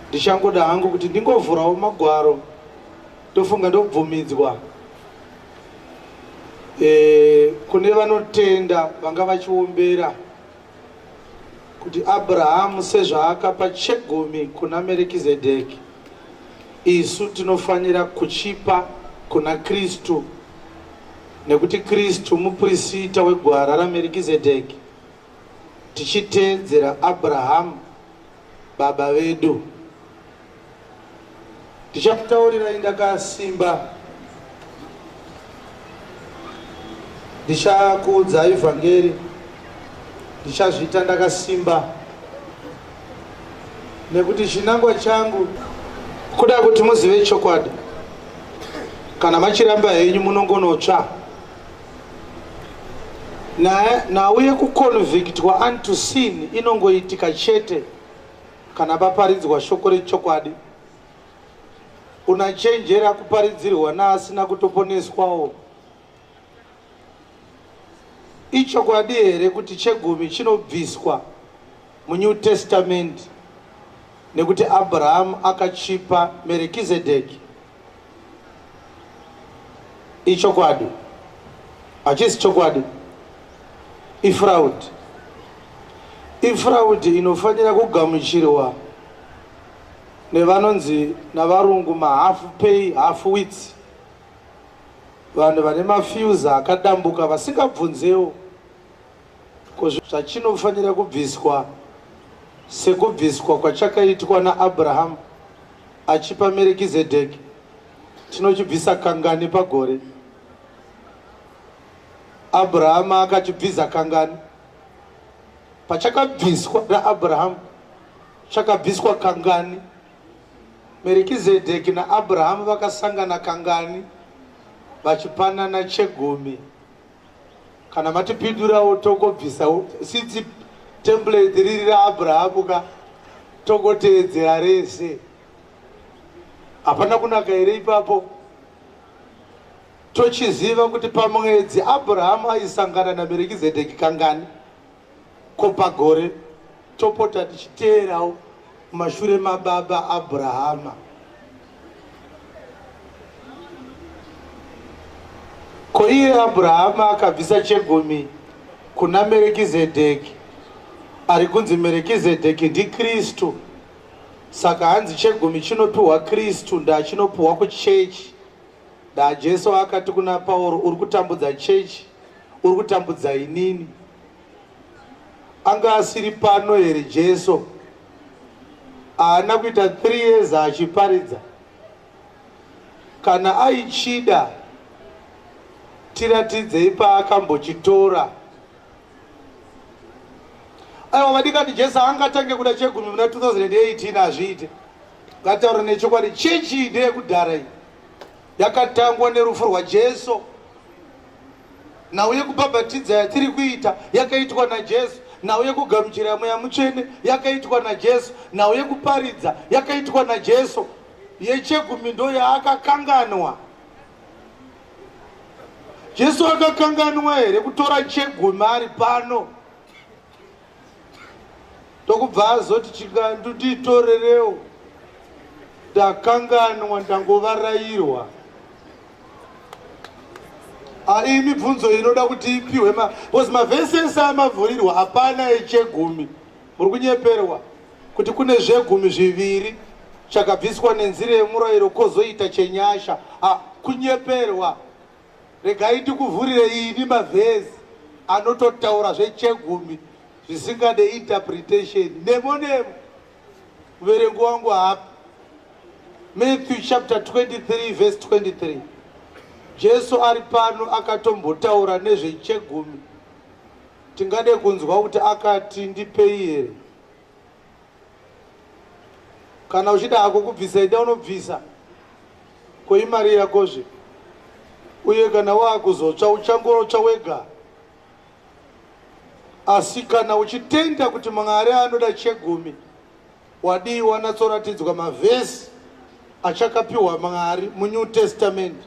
ndichangoda hangu kuti ndingovhurawo magwaro tofunga ndobvumidzwa e, kune vanotenda vanga vachiombera kuti Abrahamu sezvaakapa chegumi kuna Merekizedheki, isu tinofanira kuchipa kuna Kristu, nekuti Kristu muprisita wegwara raMerekizedheki, tichiteedzera Abrahamu. Baba vedu ndichakutaurirai ndakasimba ndichakuudza ivhangeri ndichazviita ndakasimba nekuti chinangwa changu kuda kuti muzive chokwadi kana machiramba henyu munongonotsva nhau yekuconvictwa unto sin inongoitika chete kana paparidzwa shoko rechokwadi unachenjera kuparidzirwa naasina kutoponeswawo ichokwadi here kuti chegumi chinobviswa munew testament nekuti abrahamu akachipa merekizedheki ichokwadi hachisi chokwadi ifraudi ifraudi inofanira kugamuchirwa nevanonzi navarungu mahafu pay half wits vanhu vane mafiuza akadambuka vasingabvunzewo Ko zvachinofanira kubviswa sekubviswa kwachakaitwa naAbrahamu achipa Merekizedheki, tinochibvisa kangani pagore? Abrahamu akachibvisa kangani? Pachakabviswa naAbrahamu, chakabviswa kangani? Merekizedheki naAbrahamu vakasangana kangani vachipanana chegumi? kana matipindurawo tongobvisawo since template riri raabrahamu ka tongoteedzera rese hapana kunaka here ipapo tochiziva kuti pamwedzi abrahamu aisangana namerekizedheki kangani Ko pagore topota tichiteerawo mashure mababa Abrahama. Ko iye Abrahama akabvisa chegumi kuna Merekizedheki, ari kunzi Merekizedheki ndiKristu. Saka hanzi chegumi chinopiwa Kristu, ndaa chinopiwa kuchechi. Da Jesu akati kuna Pauro, uri kutambudza chechi, uri kutambudza inini. Anga asiri pano here Jesu? Haana kuita 3 years achiparidza. Kana aichida tiratidzei paakambochitora aiwa vadikani jesu angatange kuda chegumi muna 2018 hazviite ngataura nechokwadi chechi ndeyekudhara iyi yakatangwa nerufu rwajesu nhau yekubhabhatidza yatiri kuita yakaitwa najesu nhau yekugamuchira mweya mutsvene yakaitwa najesu nhau yekuparidza yakaitwa najesu yechegumi ndo yaakakanganwa Jesu akakanganwa here kutora chegumi ari pano ndokubva azoti chikandu ndiitorerewo ndakanganwa ndangovarairwa ai mibvunzo inoda kuti ipiwe bcause mavhesi ese amavhurirwa hapana echegumi Muri kunyeperwa kuti kune zvegumi zviviri chakabviswa nenzira yemurayiro kozoita chenyasha ah, kunyeperwa regai ndikuvhurire ini mavhezi anototaura zvechegumi zvisingade interpretation nemo nemo muverengo wangu hapa matthew chapter 23 verse 23 jesu ari pano akatombotaura nezvechegumi Tingade kunzwa kuti akati ndipei here? Kana uchida hako kubvisa ida unobvisa. Ko imari yakozve. Uye kana waakuzotsva uchangorotsva wega. Asi kana uchitenda kuti Mwari anoda chegumi wadii wanatsoratidzwa mavhesi achakapiwa Mwari muNew Testament.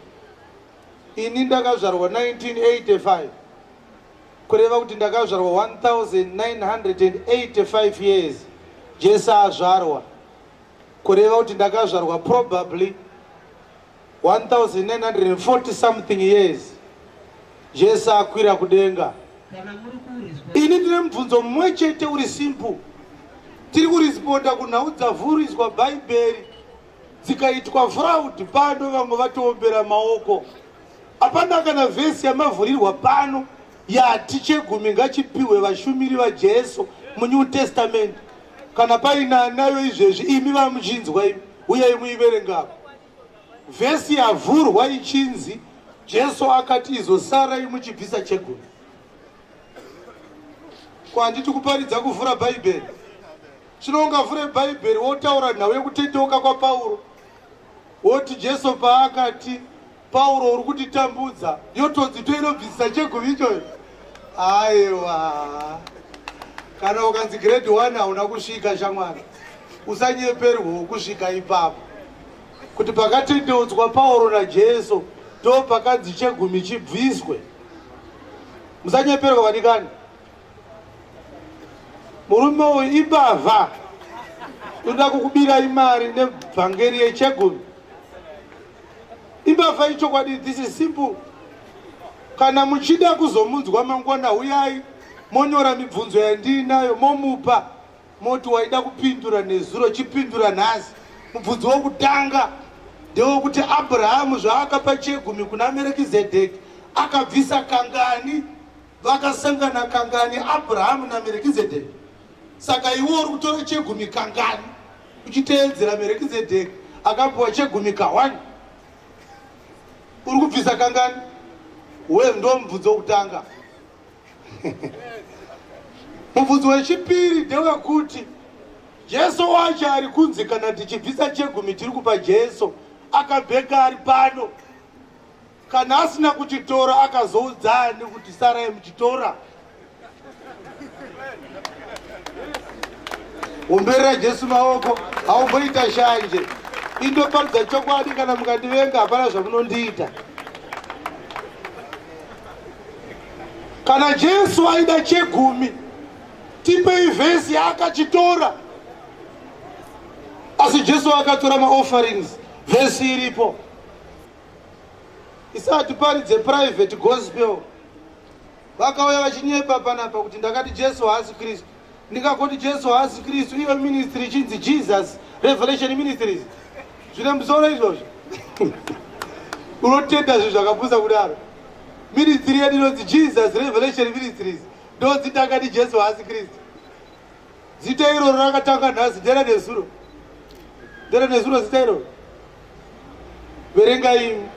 Ini ndakazvarwa 1985 kureva kuti ndakazvarwa 1985 years jesu azvarwa kureva kuti ndakazvarwa probably 1940 something years jesu akwira kudenga ini ndine mubvunzo mumwe chete uri simple tiri kurisponda kunhau dzavhuriswa bhaibheri dzikaitwa fraud pano vamwe vatoombera maoko Hapana kana vhesi yamavhurirwa pano yati chegumi ngachipiwe vashumiri vaJesu muNew Testament. Kana paine anayo izvezvi imi vamuchinzwa imi uyai muiverengako. Vhesi yavhurwa ichinzi Jesu akati izosarai muchibvisa chegumi. Ko handiti kuparidza kuvhura Bhaibheri? Zvino ungavhure Bhaibheri wotaura nhau yekutendeuka kwaPauro. woti jesu paakati pauro uri kutitambudza yotonzi toinobvisisa chegumi ichoyo aiwa kana ukanzi grade one hauna kusvika shamwari usanyeperwewo kusvika ipapo kuti pakatendeudzwa pauro najesu ndo pakanzi chegumi chibviswe musanyeperwa vadikani murume uyu imbavha ndoda kukubira imari nebvangeri yechegumi imbavha ichokwadi this is simple kana muchida kuzomunzwa mangwana huyai monyora mibvunzo yandiinayo momupa moti waida kupindura nezuro chipindura nhasi mubvunzo wokutanga ndewekuti abrahamu zvaakapa chegumi kuna merekizedheki akabvisa kangani Vakasangana kangani Abrahamu naMerikizedheki? Saka iwe uri kutora chegumi kangani uchiteedzera Merikizedheki akapiwa chegumi kahwani? Uri kubvisa kangani? Wewe ndo mubvunzo wokutanga. Mubvunzo wechipiri ndewekuti Jesu wacho ari kunzi kana tichibvisa chegumi tiri kupa Jesu akabheka ari pano Kana asina kuchitora akazoudza ani kuti sarai muchitora? Umberera Jesu maoko, haumboita shanje. Indoparidza chokwadi kana mukandivenga hapana zvamunondiita. Kana Jesu aida chegumi, tipei vhesi yaakachitora. Asi Jesu akatora maofferings, vhesi iripo. isati paridze private gospel vakauya vachinyepa panapa kuti ndakati jesu haasi kristu ndingakoti jesu haasi kristu iyo ministry ichinzi jesus revelation ministries zvine musoro izvozvo unotenda zvinhu zvakapusa kudaro ministry yedu inonzi jesus revelation ministries ndonzi ndakati jesu haasi kristu zita iroro rakatanga nhasi ndera nezuro ndera nezuro zita iroro verenga imi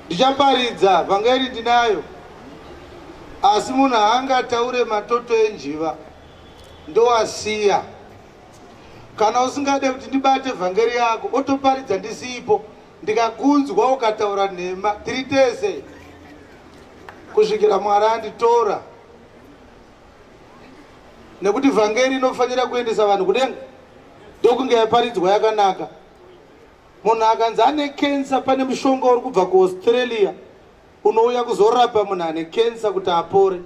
ndichaparidza vhangeri ndinayo asi munhu haangataure matoto enjiva ndowasiya kana usingade kuti ndibate vhangeri yako otoparidza ndisipo ndikakunzwa ukataura nhema tiri tese kusvikira mwari anditora nekuti vhangeri inofanira kuendesa vanhu kudenga ndokunge yaparidzwa yakanaka munhu akanzi ane kensa pane mushonga uri kubva kuaustralia unouya kuzorapa munhu ane kensa kuti apore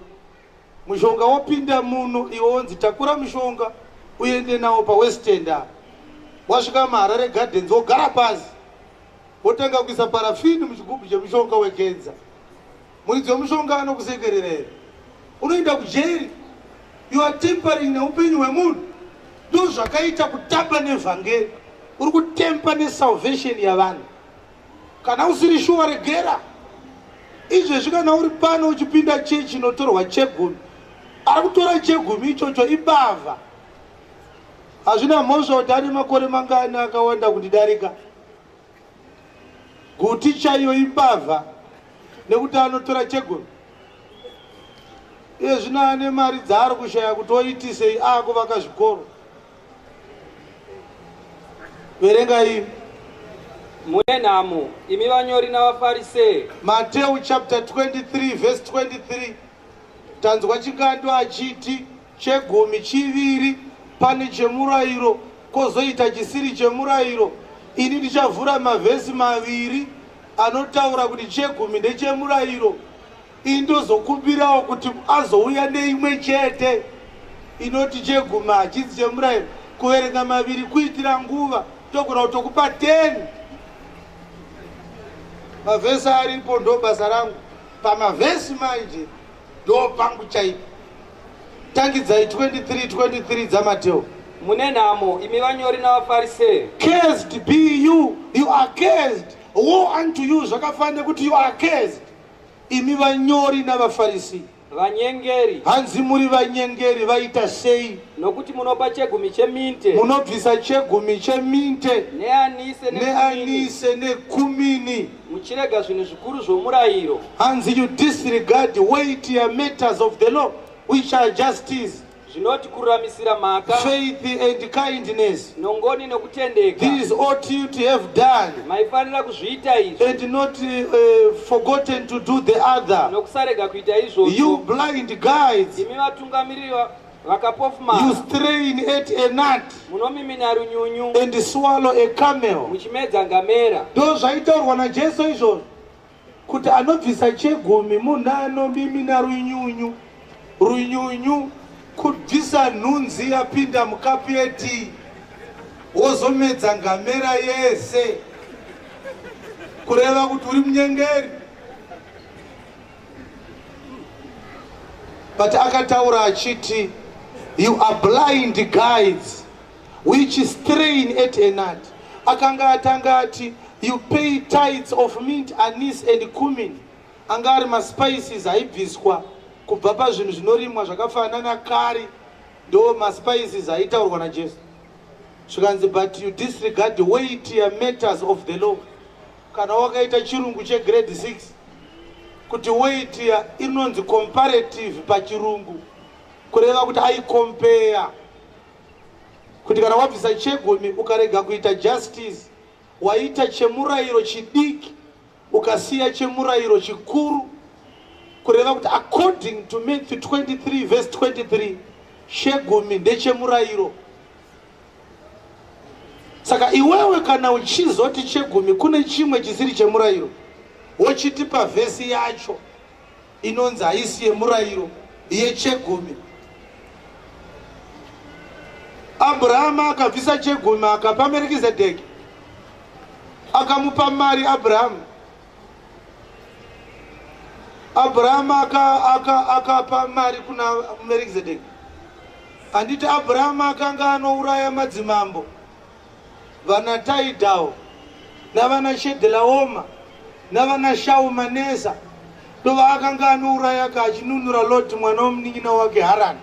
mushonga wopinda muno iwo wonzi takura mushonga uende nawo pawestenda wasvika maharare gardens wogara pasi wotanga kuisa parafini muchigubhu chemushonga wekensa Muridzi wemushonga anokusekerera here? Unoenda kujeri. You are tempering neupenyu hwemunhu. Ndo zvakaita kutamba nevhangeri. Uri kutempa nesalvation yavanhu. Kana usiri shuwa regera. Izvezvi kana uri pano uchipinda chechi inotorwa chegumi. Ari kutora chegumi ichocho ibavha. Hazvina mhosva kuti ane makore mangani akawanda kundidarika. Guti chaiyo imbavha nekuti anotora chegumi iye zvino ane mari dzaari kushaya kuti oitisei aakuvaka zvikoro verenga iyi mune nhamo imi vanyori navafarisee mateu chapter 23 vhesi 23 tanzwa chingando achiti chegumi chiviri pane chemurayiro kozoita chisiri chemurayiro ini ndichavhura mavhesi maviri anotaura kuti chegumi ndechemurayiro ini ndozokumbirawo kuti azouya neimwe chete inoti chegumi hachisi chemurayiro kuverenga maviri kuitira nguva togona kuti tokupa 10 mavhesi aripo ndo basa rangu pamavhesi manje ndo pangu chaipo Tangidzai 23 23 dzaMateo. Mune nhamo imi vanyori navaFarisee. Cursed be you, you are cursed. Woe unto you zvakafanira kuti you are cursed. Imi vanyori navaFarisee. Vanyengeri. Hanzi muri vanyengeri vaita sei? Nokuti munopa chegumi cheminte. Munobvisa chegumi cheminte. Neanise nekumini. Neanise nekumini. muchirega zvinhu zvikuru zvomurayiro hanzi you disregard weightier matters of the law which are justice zvinoti kururamisira mhaka faith and kindness nongoni nokutendeka these ought you to have done maifanira kuzviita izvi and not uh, forgotten to do the other nokusarega kuita izvozvo you blind guides imi vatungamiriri vakapofumara You strain at a gnat munomimina runyunyu and swallow a camel. muchimedza ngamera Ndo zvaitaurwa naJesu izvozvo kuti anobvisa chegumi munhu anomimina runyunyu. Runyunyu kubvisa nhunzi yapinda mukapu yetii wozomedza ngamera yese kureva kuti uri munyengeri. but akataura achiti you are blind guides which is strain at enad akanga atanga ati you pay tides of mint anis and cumin anga ari maspices aibviswa kubva pazvinhu zvinorimwa zvakafanana nakari ndo maspices aitaurwa najesu zvikanzi but you disregard the weightier matters of the law Kana wakaita chirungu che grade 6 kuti weight ya inonzi comparative pachirungu kureva kuti ai compare kuti kana wabvisa chegumi ukarega kuita justice waita chemurayiro chidiki ukasiya chemurayiro chikuru kureva kuti according to Matthew 23 verse 23 chegumi ndechemurayiro saka iwewe kana uchizoti chegumi kune chimwe chisiri chemurayiro wochiti pavhesi yacho inonzi haisi yemurayiro yechegumi abrahama akabvisa chegumi akapa merikizedheki akamupa mari abrahamu abrahama akapa aka, aka mari kuna merizedeki handiti abrahama akanga anouraya madzimambo vana taidhawo navana shedhelaoma navana shaumanesa ndovaakanga anouraya ka achinunura loti mwana womunin'ina wake harani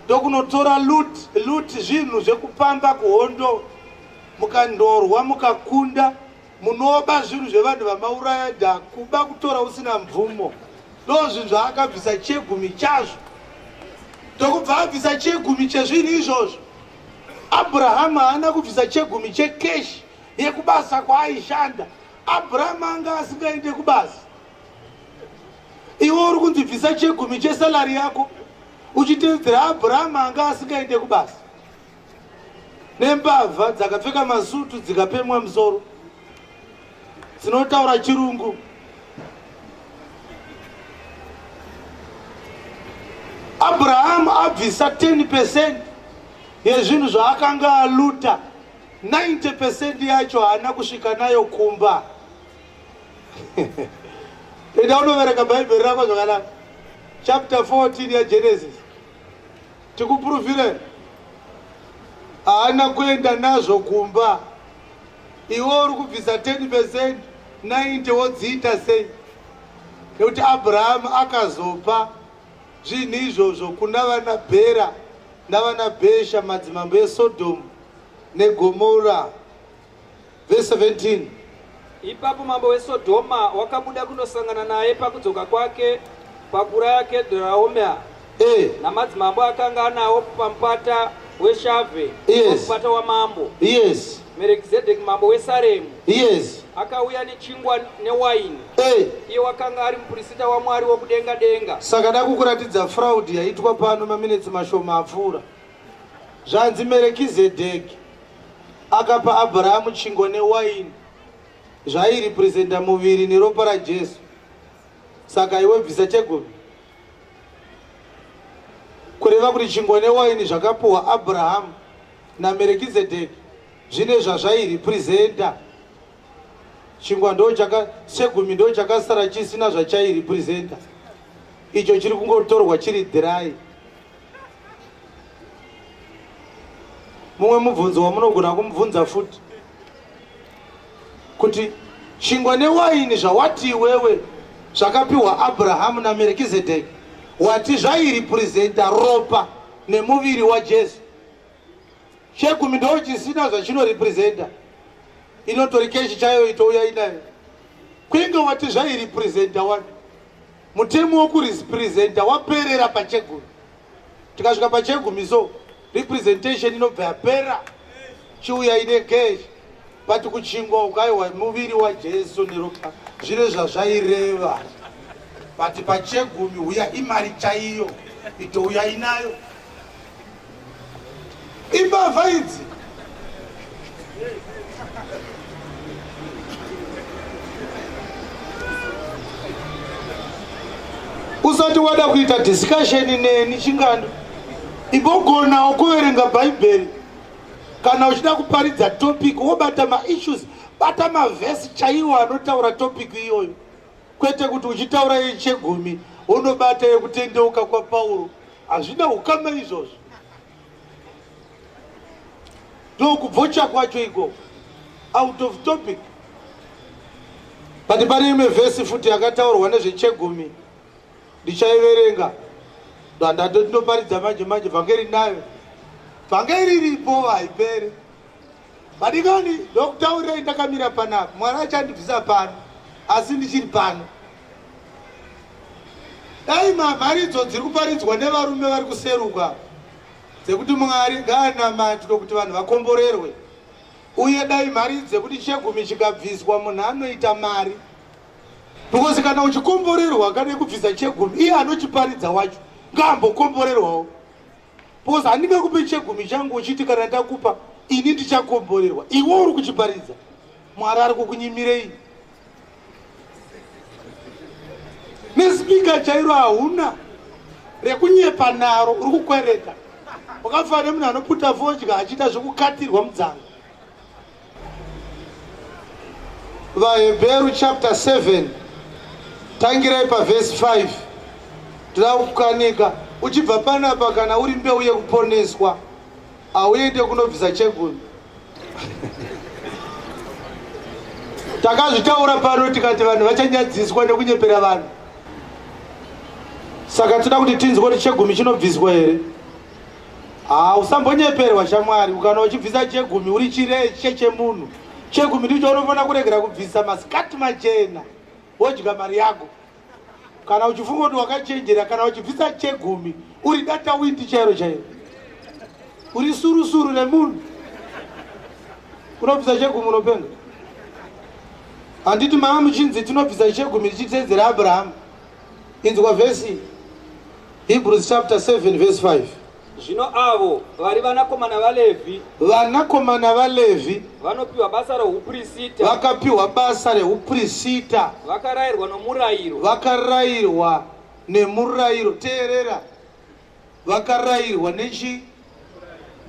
ndokunotora luti zvinhu zvekupamba kuhondo mukandorwa mukakunda munoba zvinhu zvevanhu vamauraya da kuba kutora usina mvumo ndo zvinhu zvaakabvisa chegumi chazvo tokubva abvisa chegumi chezvinhu izvozvo abrahamu haana kubvisa chegumi chekeshi yekubasa kwaaishanda abrahamu anga asingaende kubasa iwe uri kunzi bvisa chegumi chesalari yako uchitevedzera abrahamu anga asingaende kubasa nembavha dzakapfeka masutu dzikapemwa musoro dzinotaura chirungu abrahamu abvisa 10 percent yezvinhu zvaakanga aluta 90 percent yacho haana kusvika nayo kumba enda unovereka bhaibheri rako zvakanaka chapter 14 yagenesis Tikupuruvire haana kuenda nazvo kumba. Iwe uri kubvisa 10% 90 wodziita sei? Nekuti Abrahamu akazopa zvinhu izvozvo kuna vana Bhera navana Bhesha madzimambo eSodhomu neGomora. Verse 17. Ipapo mambo weSodhoma wakabuda kunosangana naye pakudzoka kwake pakuraya Kedhraomea Eh, namadzimambo akanga anawo pamupata weshave Yes. pamupata wamambo yes, merekizedheki mambo wesaremu yes. akauya nechingwa newaini Eh, iye wakanga ari mupurisita wamwari wokudenga denga saka dakukuratidza fraud yaitwa pano maminetsi mashoma apfuura. Zvanzi Merekizedheki akapa Abrahamu chingwa newaini zvairepresenta muviri neropa raJesu. Saka iwe bvisa chegumi. Kureva kuti chingwa newaini zvakapuwa Abrahamu naMerekizedheki zvine zvazvairepresenta. Chingwa ndo chaka chegumi ndo chakasara chisina zvachairepresenta. Icho chiri kungotorwa chiri dhirai. mumwe mubvunzo wamunogona kumubvunza futi kuti chingwa newaini zvawati iwewe zvakapiwa abrahamu namerkizedeki wati zvairipurizenta ropa nemuviri wajesu chegumi ndo chisina zvachinorepurizenta inotori keshi chayo itouya inayo kwinge wati zvairipurizenta wani Mutemo wokurepresenta waperera pachegumi. Tikasvika pachegumi so representation inobva yapera chiuya ine cash but kuchingwa ukaiwa muviri waJesu neropa zvine zvazvaireva but pachegumi uya imari chaiyo itouya inayo imbavha idzi usati wada kuita discussion neni chingando imbogonawo kuverenga bhaibheri kana uchida kuparidza topic wobata maissues bata mavhesi chaiwo anotaura topic iyoyo kwete kuti uchitaura yechegumi unobata yekutendeuka kwapauro hazvina hukama izvozvo ndokubvocha kwacho iko out of topic but pane imwe vhesi futi yakataurwa nezvechegumi ndichaiverenga ndandato ndinoparidza manje manje bvange rinayo bvange riripo haiperi madikani ndokutaurirai ndakamira panapa mwana achandibvisa pano asi ndichiri pano Dai mhamharidzo dziri kuparidzwa nevarume vari kuseruka dzekuti Mwari ngaanamatwe kuti vanhu vakomborerwe uye dai mari dzekuti chegumi chikabviswa munhu anoita mari because kana uchikomborerwa kana kubvisa chegumi iye anochiparidza wacho ngaambokomborerwawo because handinge kupe chegumi changu uchiti kana ndakupa ini ndichakomborerwa iwe uri kuchiparidza mwari ari kukunyimirei nespeaker chairo hauna rekunyepa naro uri kukwereta wakafana nemunhu anoputa vodya achiita zvekukatirwa mudzanga vahebheru chapter 7 tangirai pavhesi 5 tira kukanika uchibva panapa kana uri mbeu yekuponeswa Auite kunobvisa cheguni. Takazvitaura pano tikati vanhu vachanyadziswa nekunyepera vanhu. Saka tinoda kuti tinzwe kuti chegumi chinobviswa here? Haa usambonyeperwa shamwari ukana uchibvisa chegumi uri chireche chemunhu. Chegumi ndicho unofanira kuregera kubvisa masikati machena wodya mari yako. kana uchifunga kuti wakachenjera kana uchibvisa chegumi uri data windi chairo chairo uri surusuru remunhu unobvisa chegumi unopenga handiti mama muchinzi tinobvisa chegumi tichitedzera abrahamu inzwa vhesi hebrews chapter 7 vhesi 5 Zvino avo vari vanakomana vaLevhi, vanakomana vaLevhi vanopiwa basa rouprisita, vakapiwa basa reuprisita, vakarayirwa nomurayiro, vakarayirwa nemurayiro. Teerera, vakarayirwa nechi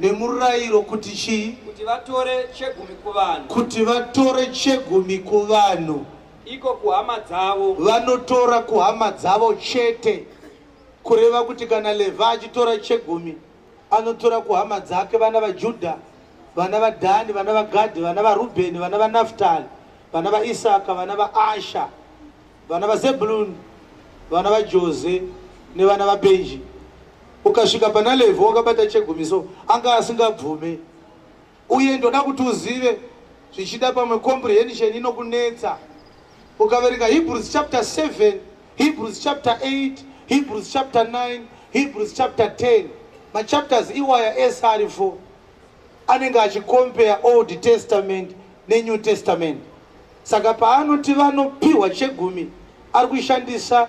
nemurayiro kuti chii? Kuti vatore chegumi kuvanhu, Kuti vatore chegumi kuvanhu, iko kuhama dzavo. vanotora kuhama dzavo chete. Kureva kuti kana Levhi achitora chegumi anotora kuhama dzake vana vaJudha, vana vaDhani, vana vaGadhi, vana vaRubheni, vana vaNafutali, vana vaIsaka, vana vaAsha, vana vaZebhuluni, vana vaJoze nevana vaBhenji. Ukasvika pana Levhi wakabata chegumi so anga asingabvume Uye ndoda kuti uzive zvichida pamwe comprehension inokunetsa ukaverenga hebrews chapter 7 hebrews chapter 8 hebrews chapter 9 hebrews chapter 10 machapters iwaya ese ari 4 anenge achicompare old testament nenew testament saka paanoti vanopiwa chegumi ari kushandisa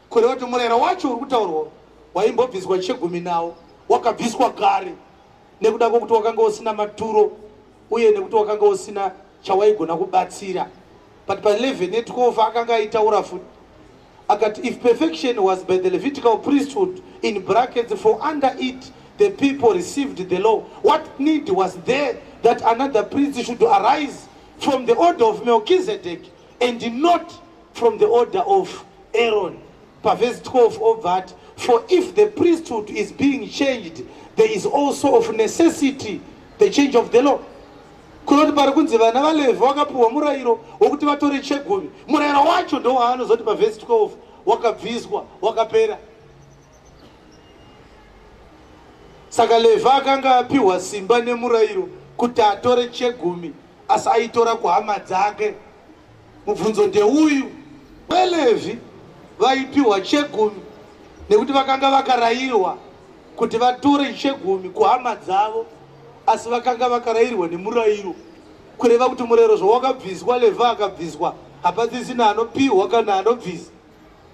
Kureva kuti murayiro wacho uri kutaurwa waimbobviswa chegumi nawo wakabviswa kare nekuda kwokuti wakanga usina maturo uye nekuti wakanga usina chawaigona kubatsira but pa 11 ne12 akanga aitaura futi akati if perfection was by the levitical priesthood in brackets for under it the people received the law what need was there that another priest should arise from the order of melchizedek and not from the order of Aaron. Verse 12 of that, for if the priesthood is being changed, there is also of necessity the change of the law. kunoti pari kunzi vana valevhi vakapiwa murayiro wokuti vatore chegumi murayiro wacho ndowaanozoti pavhesi 12 wakabviswa wakapera Saka Levha akanga apiwa simba nemurayiro kuti atore chegumi asi aitora kuhama dzake. Mubvunzo ndeuyu, VaLevhi vaipiwa chegumi nekuti vakanga vakarayirwa kuti vatore chegumi kuhama dzavo asi vakanga vakarayirwa nemurayiro kureva kuti murayiro zvawakabviswa Levha akabviswa hapasisina anopiwa kana anobvisa.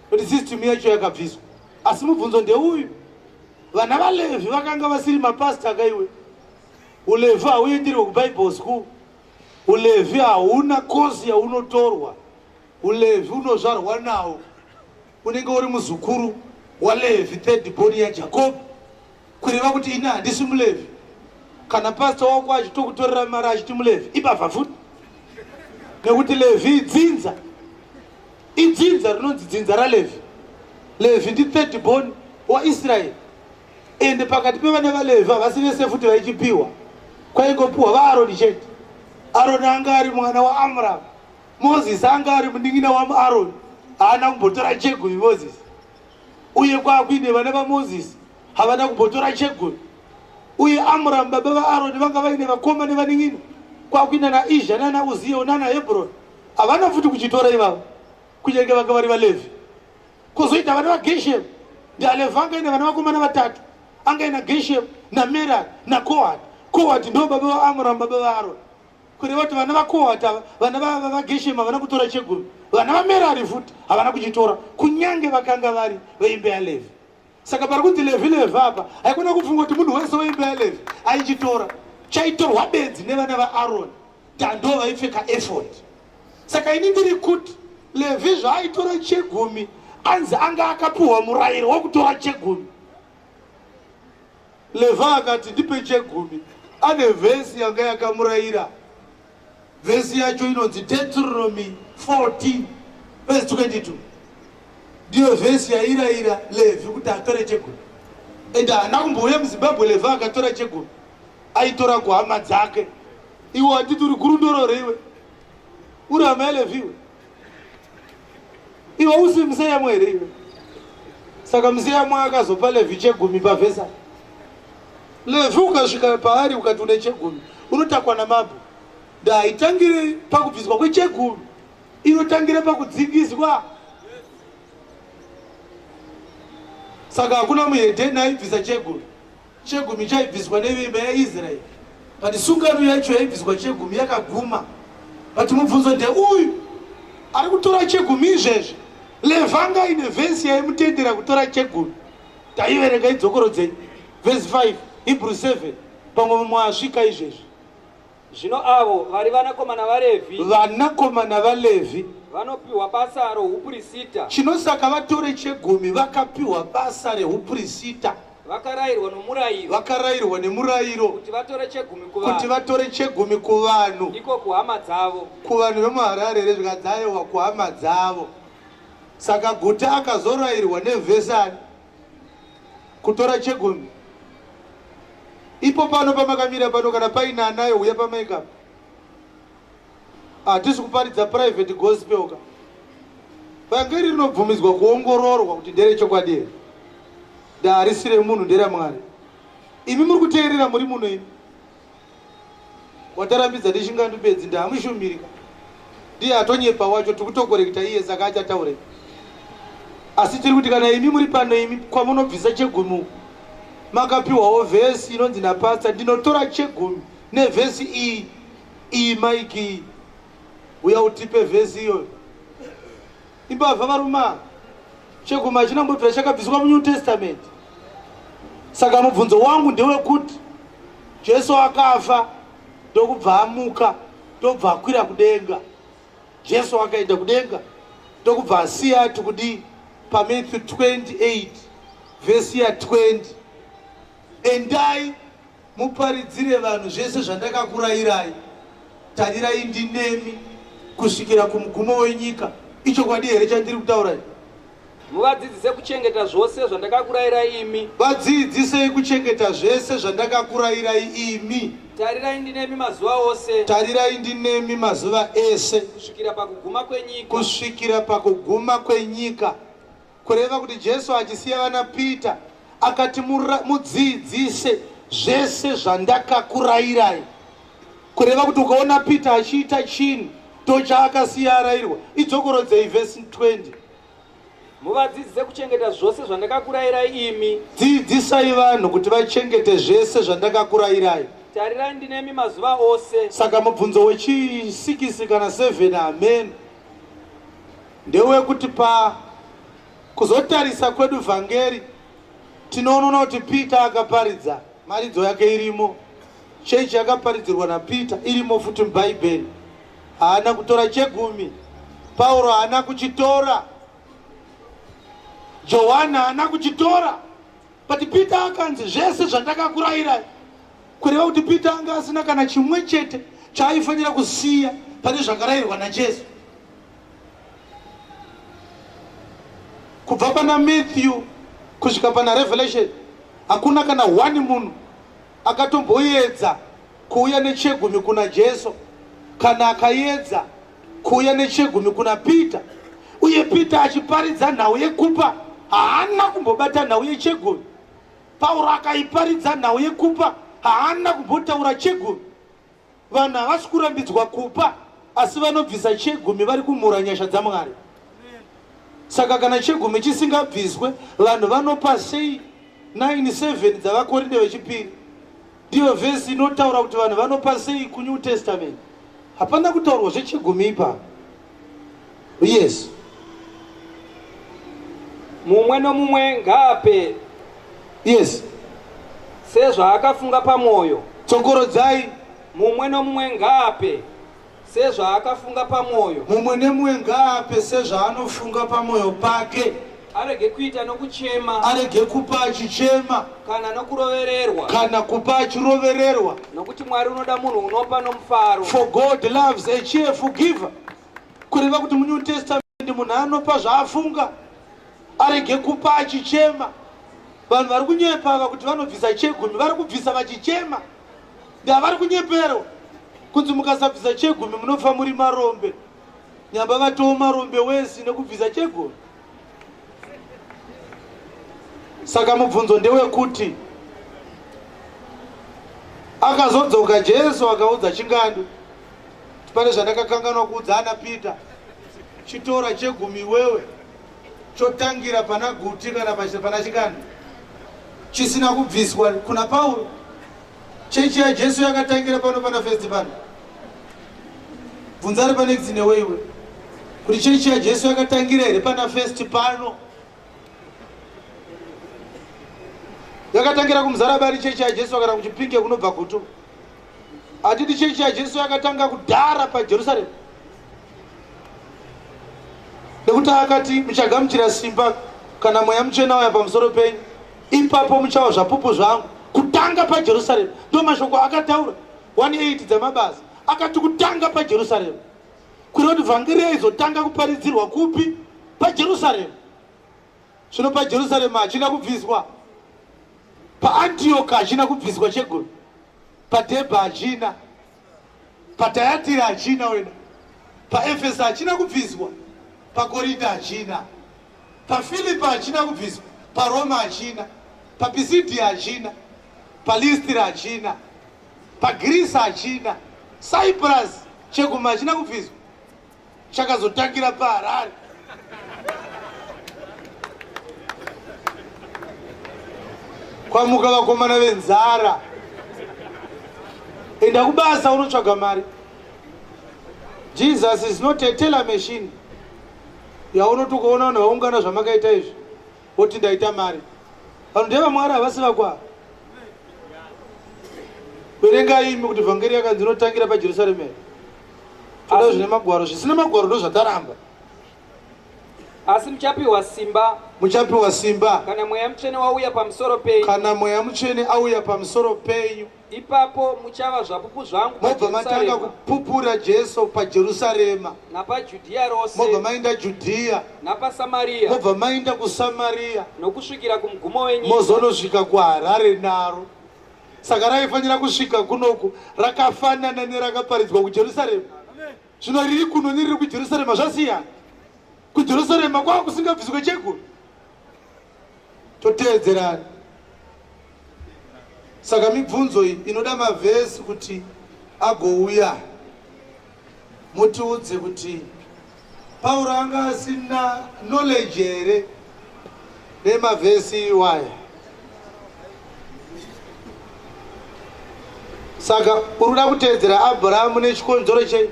kuti system yacho yakabviswa asi mubvunzo ndeuyu vana valevhi vakanga vasiri mapasita kaiwe ulevhi hauendirwe kubible school ulevhi hauna kozi yaunotorwa ulevhi unozvarwa nawo unenge uri muzukuru walevhi third boni yajakobi kureva kuti ini handisi mulevhi kana pasta wako achitokutorera mari achiti mulevhi ibavha futi nekuti levhi idzinza idzinza rinonzi dzinza ralevhi levhi ndi third born waisraeri ende pakati pevana valevhi havasi vese futi vaichipiwa kwaingopiwa vaaroni chete aroni anga ari mwana waamramu mozisi anga ari munin'ina wamuaroni haana kumbotora chegumi mozisi uye kwaakuine vana vamozisi havana kumbotora chegoni uye amuramu baba vaaroni vanga vaine vakoma nevanin'ina kwakuina naizha nana uziyo nana hebroni havana futi kuchitora ivavo kunyange vanga vari valevhi kozoita vana vageshemu ndialevhi anga ine vana vakomana vatatu anga ina geshemu namerari nakohati kohati ndo baba vaamuramu baba vaaroni kureva kuti vana vakohata vana vageshema havana kutora chegumi vana vamerari futi havana kuchitora kunyange vakanga vari veimbe yalevi saka pari kunzi levi levi apa haikona kufunga kuti munhu wese weimbe yalevi aichitora chaitorwa bedzi nevana vaaroni tando vaipfeka efod saka ini ndiri kuti levi zvaaitora chegumi anzi anga akapiwa murayiro wekutora chegumi Leva akati ndipe chegumi ane vhesi yanga yakamurayira vhesi yacho inonzi deuteronomy 14 vhesi 22 ndiyo vhesi yairayira levhi kuti atore chegumi and haana kumbouya muzimbabwe levhi akatora chegumi aitora kuhama dzake iwo atiti uri gurundorore iwe uri hama yalevhi iwe iwe usi museyamwa here iwe saka museyamwa akazopa levhi chegumi pavhesa levhi ukasvika paari ukati une chegumi unotakwa namabho ndaitangire pakubviswa kwechegumi inotangira pakudzingiswa saka hakuna muhedheni aibvisa chegumi Chegumi chaibviswa nevimba yaIsraeri. But sungano yacho yaibviswa chegumi yakaguma. But mubvunzo ndeuyu, ari kutora chegumi izvezvi. Levanga ine vhesi yaimutendera kutora chegumi. Taiverenga idzokoro dzenyu. Vhesi 5, Hebrew 7, pamwe mumwe asvika izvezvi. Zvino avo vari vanakomana vaRevhi. Vanakomana vaLevhi. Vanopiwa basa rohupurisita. Chino saka vatore chegumi vakapiwa basa rehupurisita. Vakarairwa nomurayiro. Vakarairwa nemurayiro. Kuti vatore chegumi kuvanhu. Kuti vatore chegumi kuvanhu. Ndiko kuhama dzavo. Kuvanhu vemuHarare rezvikadzayewa kuhama dzavo. Saka guta akazorairwa nevhesani. kutora chegumi ipo pano pamakamira pano kana paine anayo huya pamaikapa hatisi kuparidza private gospel ka vhangeri rinobvumidzwa kuongororwa kuti ndere chokwadi here ndaharisire munhu nderamwari imi muri kuteerera muri muno imi watarambidza ndichingandu bedzi ndamushumiri ndiye atonyepa wacho tikutokorekta iye saka achataure asi tiri kuti kana imi muri pano imi kwamunobvisa chegumi makapiwawo vhesi inonzi napasta ndinotora chegumi nevhesi iyi iyi maiki iyi uya utipe vhesi iyoyo imbavha varuma chegumi hachina kumbobvira chakabviswa munew testament saka mubvunzo wangu ndewekuti jesu akafa ndokubva amuka ndokubva akwira kudenga jesu akaenda kudenga ndokubva asiya ati kudii pamatthew 28 vhesi ya 20 endai Muparidzire vanhu zvese zvandakakurayirai, tarirai ndinemi kusvikira kumugumo wenyika. Ichokwadi here chandiri kutaura ichi? Muvadzidzise kuchengeta zvose zvandakakurayirai imi. Vadzidzisei kuchengeta zvese zvandakakurayirai imi. Tarirai ndinemi mazuva ose. Tarirai ndinemi mazuva ese. Kusvikira pakuguma kwenyika. Kusvikira pakuguma kwenyika. Kureva kuti Jesu achisiya vana Peter akati mudzidzise zvese zvandakakurayirai. Kureva kuti ukaona Peter achiita chinhu tochaakasiya arayirwa idzokorodzei vhesi 20 muvadzidzise kuchengeta zvose zvandakakurayirai imi dzidzisai vanhu kuti vachengete zvese zvandakakurayirai tarirai ndinemi mazuva ose saka mubvunzo wechisikisi kana 7 hameno ndewekuti pa kuzotarisa kwedu vhangeri tinoonona kuti peter akaparidza mharidzo yake irimo chechi yakaparidzirwa napeter irimo futi mubhaibheri haana kutora chegumi pauro haana kuchitora johani haana kuchitora but peter akanzi zvese zvandakakurayirai kureva kuti peter anga asina kana chimwe chete chaaifanira kusiya pane zvakarayirwa najesu kubva pana matthew kusvika pana revelation hakuna kana one munhu akatomboyedza kuuya nechegumi kuna jesu kana akayedza kuuya nechegumi kuna peter uye peter achiparidza nhau yekupa haana kumbobata nhau yechegumi pauro akaiparidza nhau yekupa haana kumbotaura chegumi Vanhu havasi kurambidzwa kupa asi vanobvisa chegumi vari kumhura nyasha dzaMwari. Saka kana chegumi chisingabviswe vanhu vanopa sei 97 dzavakorinde vechipiri ndiyo vhesi inotaura kuti vanhu vanopa sei kunew testament hapana kutaurwa zvechegumi ipa Yes. Mumwe nomumwe ngaape. Yes. Sezvaakafunga pamwoyo. Tsokorodzai. Mumwe nomumwe ngaape sezvaakafunga pamwoyo. Mumwe nemumwe ngaape sezvaanofunga pamwoyo pake. Arege kuita nokuchema. Arege kupa achichema. Kana nokurovererwa. Kana kupa achirovererwa. Nokuti Mwari unoda munhu unopa nomufaro. For God loves a cheerful giver. Kureva kuti muNew Testament munhu anopa zvaafunga. Arege kupa achichema. Vanhu vari kunyepa ava kuti vanobvisa chegumi vari kubvisa vachichema. Ndavari kunyeperwa. Kunzi mukasabvisa chegumi munofa muri marombe. Nyamba vatoma rombe wesi nekubvisa chegoro. Saka mubvunzo ndewekuti akazodzoka Jesu akaudza chingandu pane zvandakakanganwa kuudza ana Peter chitora chegumi wewe chotangira pana guti kana pana chikanda chisina kubviswa kuna Pauro Chechi ya Jesu yakatangira pano pana first pano. Bvunza ari pane dzine weiwe. Kuti chechi ya Jesu yakatangira here pana first pano? Yakatangira kumzara bari chechi ya Jesu kana kuchipinge kunobva kuto. Atiti chechi ya Jesu yakatanga kudara pa Jerusalem. Nekuti akati muchagamuchira simba kana mweya muchena waya pamusoro penyu ipapo muchawa zvapupu zvangu kutanga pajerusaremu ndo mashoko akataura 18 dzamabasa akati kutanga pajerusaremu kureva kuti vhangeri yaizotanga kuparidzirwa kupi pajerusaremu zvino pajerusaremu hachina kubviswa paantiyoka hachina kubviswa chegumi padhebha hachina Patayatira hachina wena, paEfesa hachina kubviswa, paKorinda hachina, paFilipa hachina kubviswa, paRoma hachina, paPisidia hachina, paListira hachina, paGirisa hachina, Cyprus cheguma hachina kubviswa, chakazotangira paharare kwamuka vakomana venzara enda kubasa unotsvaga mari jesus is not a teller machine yaunoti ukaona vanhu vaungana zvamakaita izvi woti ndaita mari vanhu ndevamwari havasi vakwaa verengai imi kuti vhangeri yakanzi inotangira pajerusalemeri toda zvine magwaro zvisina magwaro ndozvataramba asi muchapiwa simba muchapiwa simba kana mweya mutsvene wauya pamusoro penyu kana mweya mutsvene auya pamusoro penyu ipapo muchava zvapupu zvangu mobva matanga kupupura jesu pajerusarema napajudhiya rose mobva mainda judhiya napasamariya mobva mainda kusamariya nokusvikira kumugumo wenyu mozonosvika kuharare naro saka raifanira kusvika kunoku rakafanana nerakaparidzwa kujerusarema zvino riri kuno neriri kujerusarema zvasiyana kujerusarema kwava kusingabviswe cheguru toteedzerana saka mibvunzo iyi inoda mavhesi kuti agouya mutiudze kuti pauro anga asina knowledge here nemavhesi iwaya saka uri kuda kuteedzera abrahamu nechikonzero chei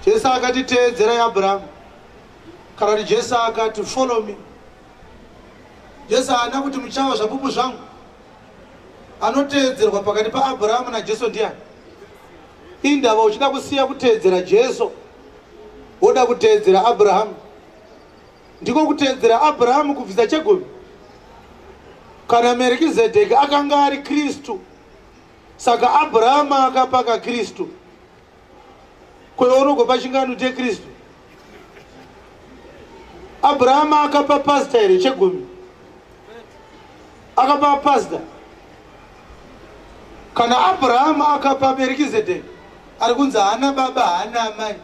jesu akati teedzerai abrahamu kana kuti jesu akati follow me jesu haana kuti muchawa zvapupu zvangu Anoteedzerwa pakati paAbraham naJesu ndiani? Indava uchida kusiya kuteedzera Jesu woda kuteedzera Abraham. Ndiko kuteedzera Abraham kubvisa chegumi. Kana Merikizedheki akanga ari Kristu, saka Abraham akapaka Kristu. kweunogo pachingano chekristu abrahama akapa pasta here chegumi akapa pasta kana abrahama akapa berikizedeki ari kunzi haana baba haana amai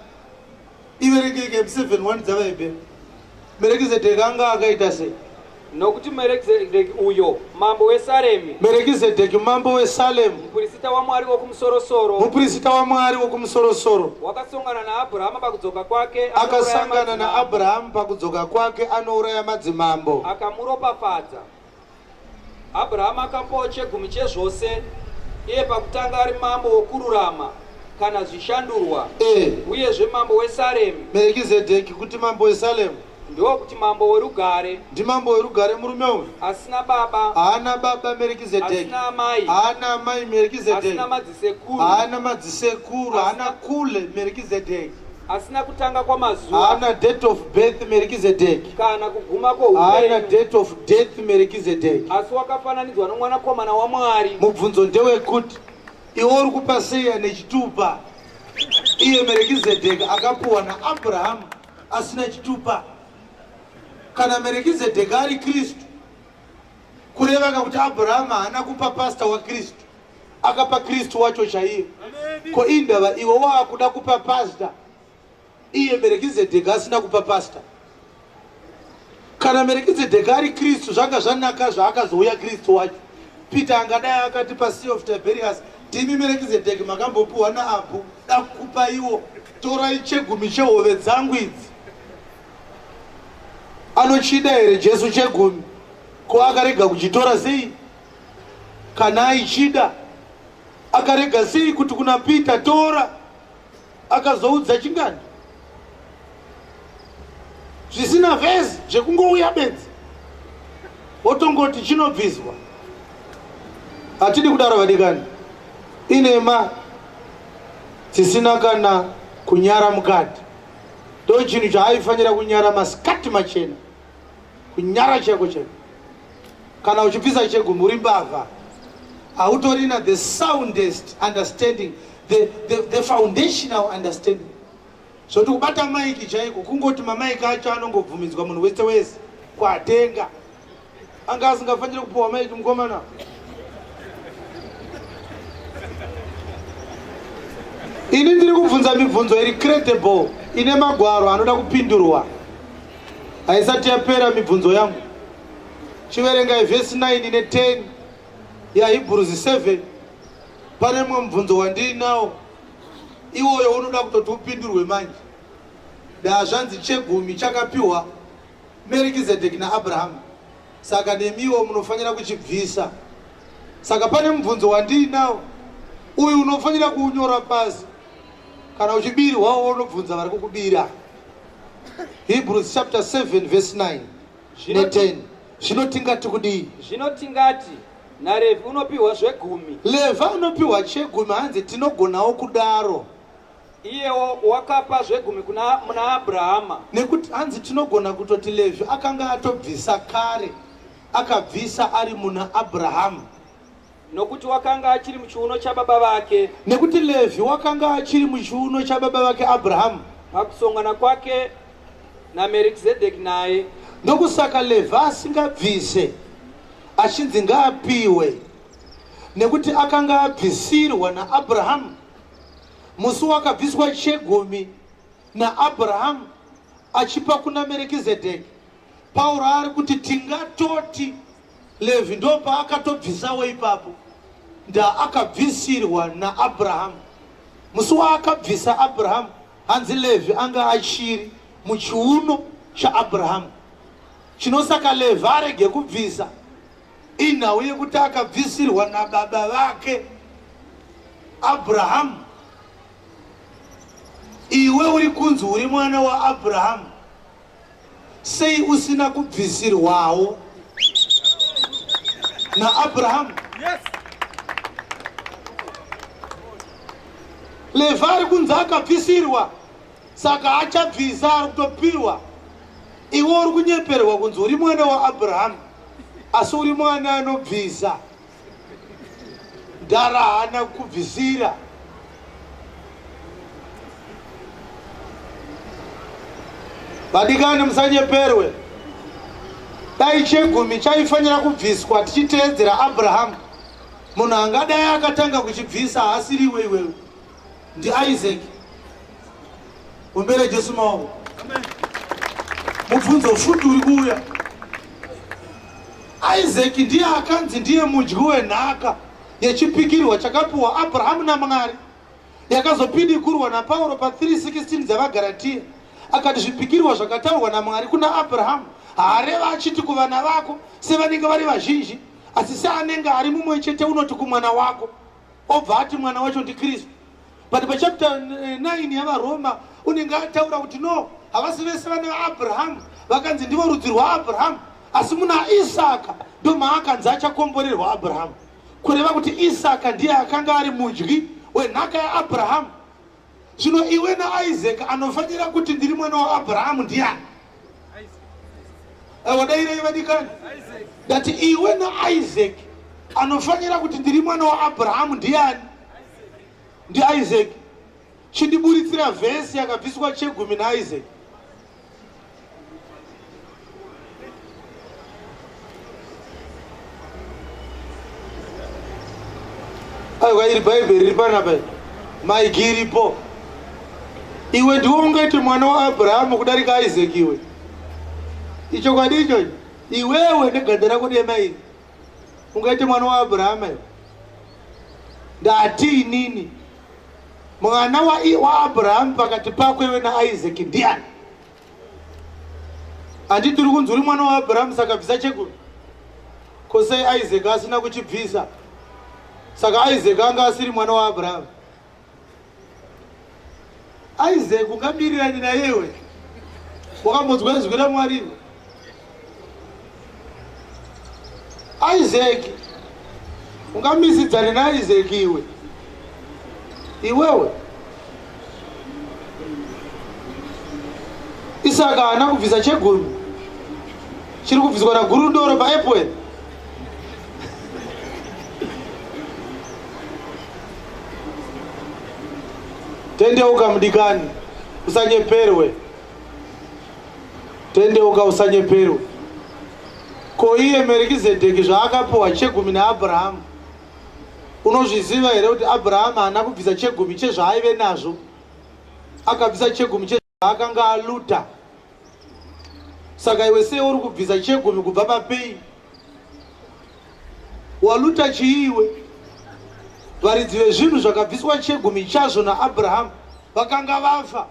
iverekeke m 7 1 dzavaibe merekizedheki anga akaita sei nokuti merekizedheki uyo mambo wesaremi merekizedheki mambo wesalemu mupirisita wamwari wokumusorosoro mupirisita wamwari wokumusorosoro wakasongana naabhurahama pakudzoka kwake anouraya akasangana madzimambo. naabhurahamu pakudzoka kwake anouraya madzimambo akamuropafadza Abrahama akapawo chegumi chezvose iye pakutanga ari mambo wokururama kana zvishandurwa e. uyezve mambo wesaremi merekizedheki kuti mambo wesalemu ndiwo kuti mambo werugare ndimambo werugare murume uyu asina baba haana baba merekizedheki amai haana amai merekizedheki asina madzisekuru haana madzisekuru haana kule merekizedheki asina kutanga kwamazuva haana date of birth merikizedheki kana kuguma kwohaana date of death merikizedheki asi wakafananidzwa nomwanakomana wamwari mubvunzo ndewekuti iwe uri kupa sei ane chitupa iye merekizedheki akapuwa naabrahamu asina chitupa kana merekizedheki ari kristu kureva kakuti abrahamu haana kupa pasta wakristu akapa kristu wacho chaiye ko indava iwe waakuda kupa pasta iye merekizedheka asina kupa pasta kana merekizedheka ari kristu zvanga zvanaka zvaakazouya kristu wacho peter angadai akati pasea of tiberius timi merekizedheki makambopiwa naabhu dakupa iwo torai chegumi chehove dzangu idzi anochida here jesu chegumi ko akarega kuchitora sei Kana aichida akarega sei kuti kuna Peter tora akazoudza chingani zvisina vhezi zvekungouya benzi wotongoti chinobviswa hatidi kudaro vadikani inema dzisina kana kunyara mukati ndo chinhu chaaifanira kunyara masikati machena kunyara chako chako kana uchipisa chegumi uri mbavha hautorina the soundest understanding the, the, the foundational understanding zvoti kubata maiki chaiko kungoti mamaiki acho anongobvumidzwa munhu wese wese kwatenga Anga asingafanire kupuwa maiki mukomana. Ini ndiri kubvunza mibvunzo iri credible ine magwaro anoda kupindurwa. Haisati yapera mibvunzo yangu. Chiverengai verse 9 ine 10 yaHebrews 7 pane mumwe mubvunzo wandiinawo iwoyo unoda kutoti upindurwe manje. Daa zvanzi chegumi chakapiwa Merikizedheki naAbrahamu, saka nemiwo munofanira kuchibvisa. Saka pane mubvunzo wandiinawo uyu unofanira kuunyora pasi. Kana uchibirwawo unobvunza vari kukubira. Hebrews chapter 7 verse 9 Zvino ne ti- 10 zvino tingati kudii? Zvino tingati, naRevhi unopiwa zvegumi. Levhi anopiwa chegumi hanzi tinogonawo kudaro. Iyewo wakapa zvegumi kuna muna Abrahama. Nekuti hanzi tinogona kutoti Levhi akanga atobvisa kare, akabvisa ari muna Abrahama. Nokuti wakanga achiri muchiuno chababa vake. Nekuti Levhi wakanga achiri muchiuno chababa vake Abrahama. Pakusongana kwake naMerikizedeki naye. Ndokusaka Levhi asingabvise achinzi ngaapiwe nekuti akanga abvisirwa naAbrahama Musi wakabviswa chegumi naAbrahamu achipa kuna Merekizedheki, Pauro ari kuti tingatoti Levhi ndopaakatobvisawo ipapo, ndaakabvisirwa naAbrahamu. Musi waakabvisa Abrahamu, hanzi Levhi anga achiri muchiuno chaAbrahamu, chinosaka Levhi arege kubvisa Inhau yekuti akabvisirwa nababa vake Abrahamu. Iwe uri kunzi uri mwana waAbrahamu, sei usina kubvisirwawo naAbrahamu? Yes. Levha ari kunzi akabvisirwa, saka achabvisa ari kutopirwa. Iwe uri kunyeperwa kunzi uri mwana waAbrahamu. asi uri mwana anobvisa mdara haana kubvisira vadikani musanyeperwe dai chegumi chaifanira kubviswa tichiteedzera abrahamu munhu angadai akatanga kuchibvisa haasiriwe iwewe Ndi Isaac. Umbere Jesu mawo. Amen. Mubvunzo futi uri kuuya. Isaac ndiye akanzi ndiye mudyi wenhaka yechipikirwa chakapiwa Abrahamu naMwari yakazopidikurwa naPauro pa 3:16 dzevaGaratia akati zvipikirwa zvakataurwa naMwari kuna Abrahamu haareva achiti kuvana vako sevanenge vari vazhinji asi seanenge ari mumwe chete unoti kumwana wako obva ati mwana wacho ndikristu but pachapter 9 eh, yavaroma unenge ataura kuti no havasi vese vana vaabrahamu vakanzi ndivo rudzi rwaabrahamu asi muna isaka ndomaakanzi achakomborerwa abrahamu kureva kuti isaka ndiye akanga ari mudyi wenhaka yaabrahamu Zvino iwe naIsaac anofanira kuti ndiri mwana waAbrahamu ndiani? Eh, wadairei vadikani? Ndati iwe naIsaac anofanira kuti ndiri mwana waAbrahamu ndiani? NdiIsaac. Chindiburitsira vhesi yakabviswa chegumi naIsaac. aiwa iri bhaibheri riri panapa maigi iripo iwe ndiwo ungati mwana waabrahamu kudarika isaki iwe ichokwadi ichocho iwewe neganda rako dema iri ungaite mwana waabrahama iwe ndati inini Mwana wa, wa Abraham pakati pako iwe na Isaac ndiani? Andi tiri kunzwa uri mwana wa Abraham saka bvisa chekuru. Ko sei Isaac asina kuchibvisa? Saka Isaac anga asiri mwana wa Abraham. Isaac ungamirirani naiwe wakambodzwa izwi ramwari iwe Isaac ungamisidzane naIsaac iwe iwewe Isaka haana kubvisa chegumi chiri kubviswa nagurundoro paepwel tendeuka mudikani usanyeperwe tendeuka usanyeperwe ko iye merikizedheki zvaakapuwa chegumi naabrahamu unozviziva here kuti abrahamu haana kubvisa chegumi chezvaaive nazvo akabvisa chegumi che akanga aluta saka iwe sei uri kubvisa chegumi kubva papei waluta chii iwe varidzi vezvinhu zvakabviswa chegumi chazvo naabrahamu vakanga vafa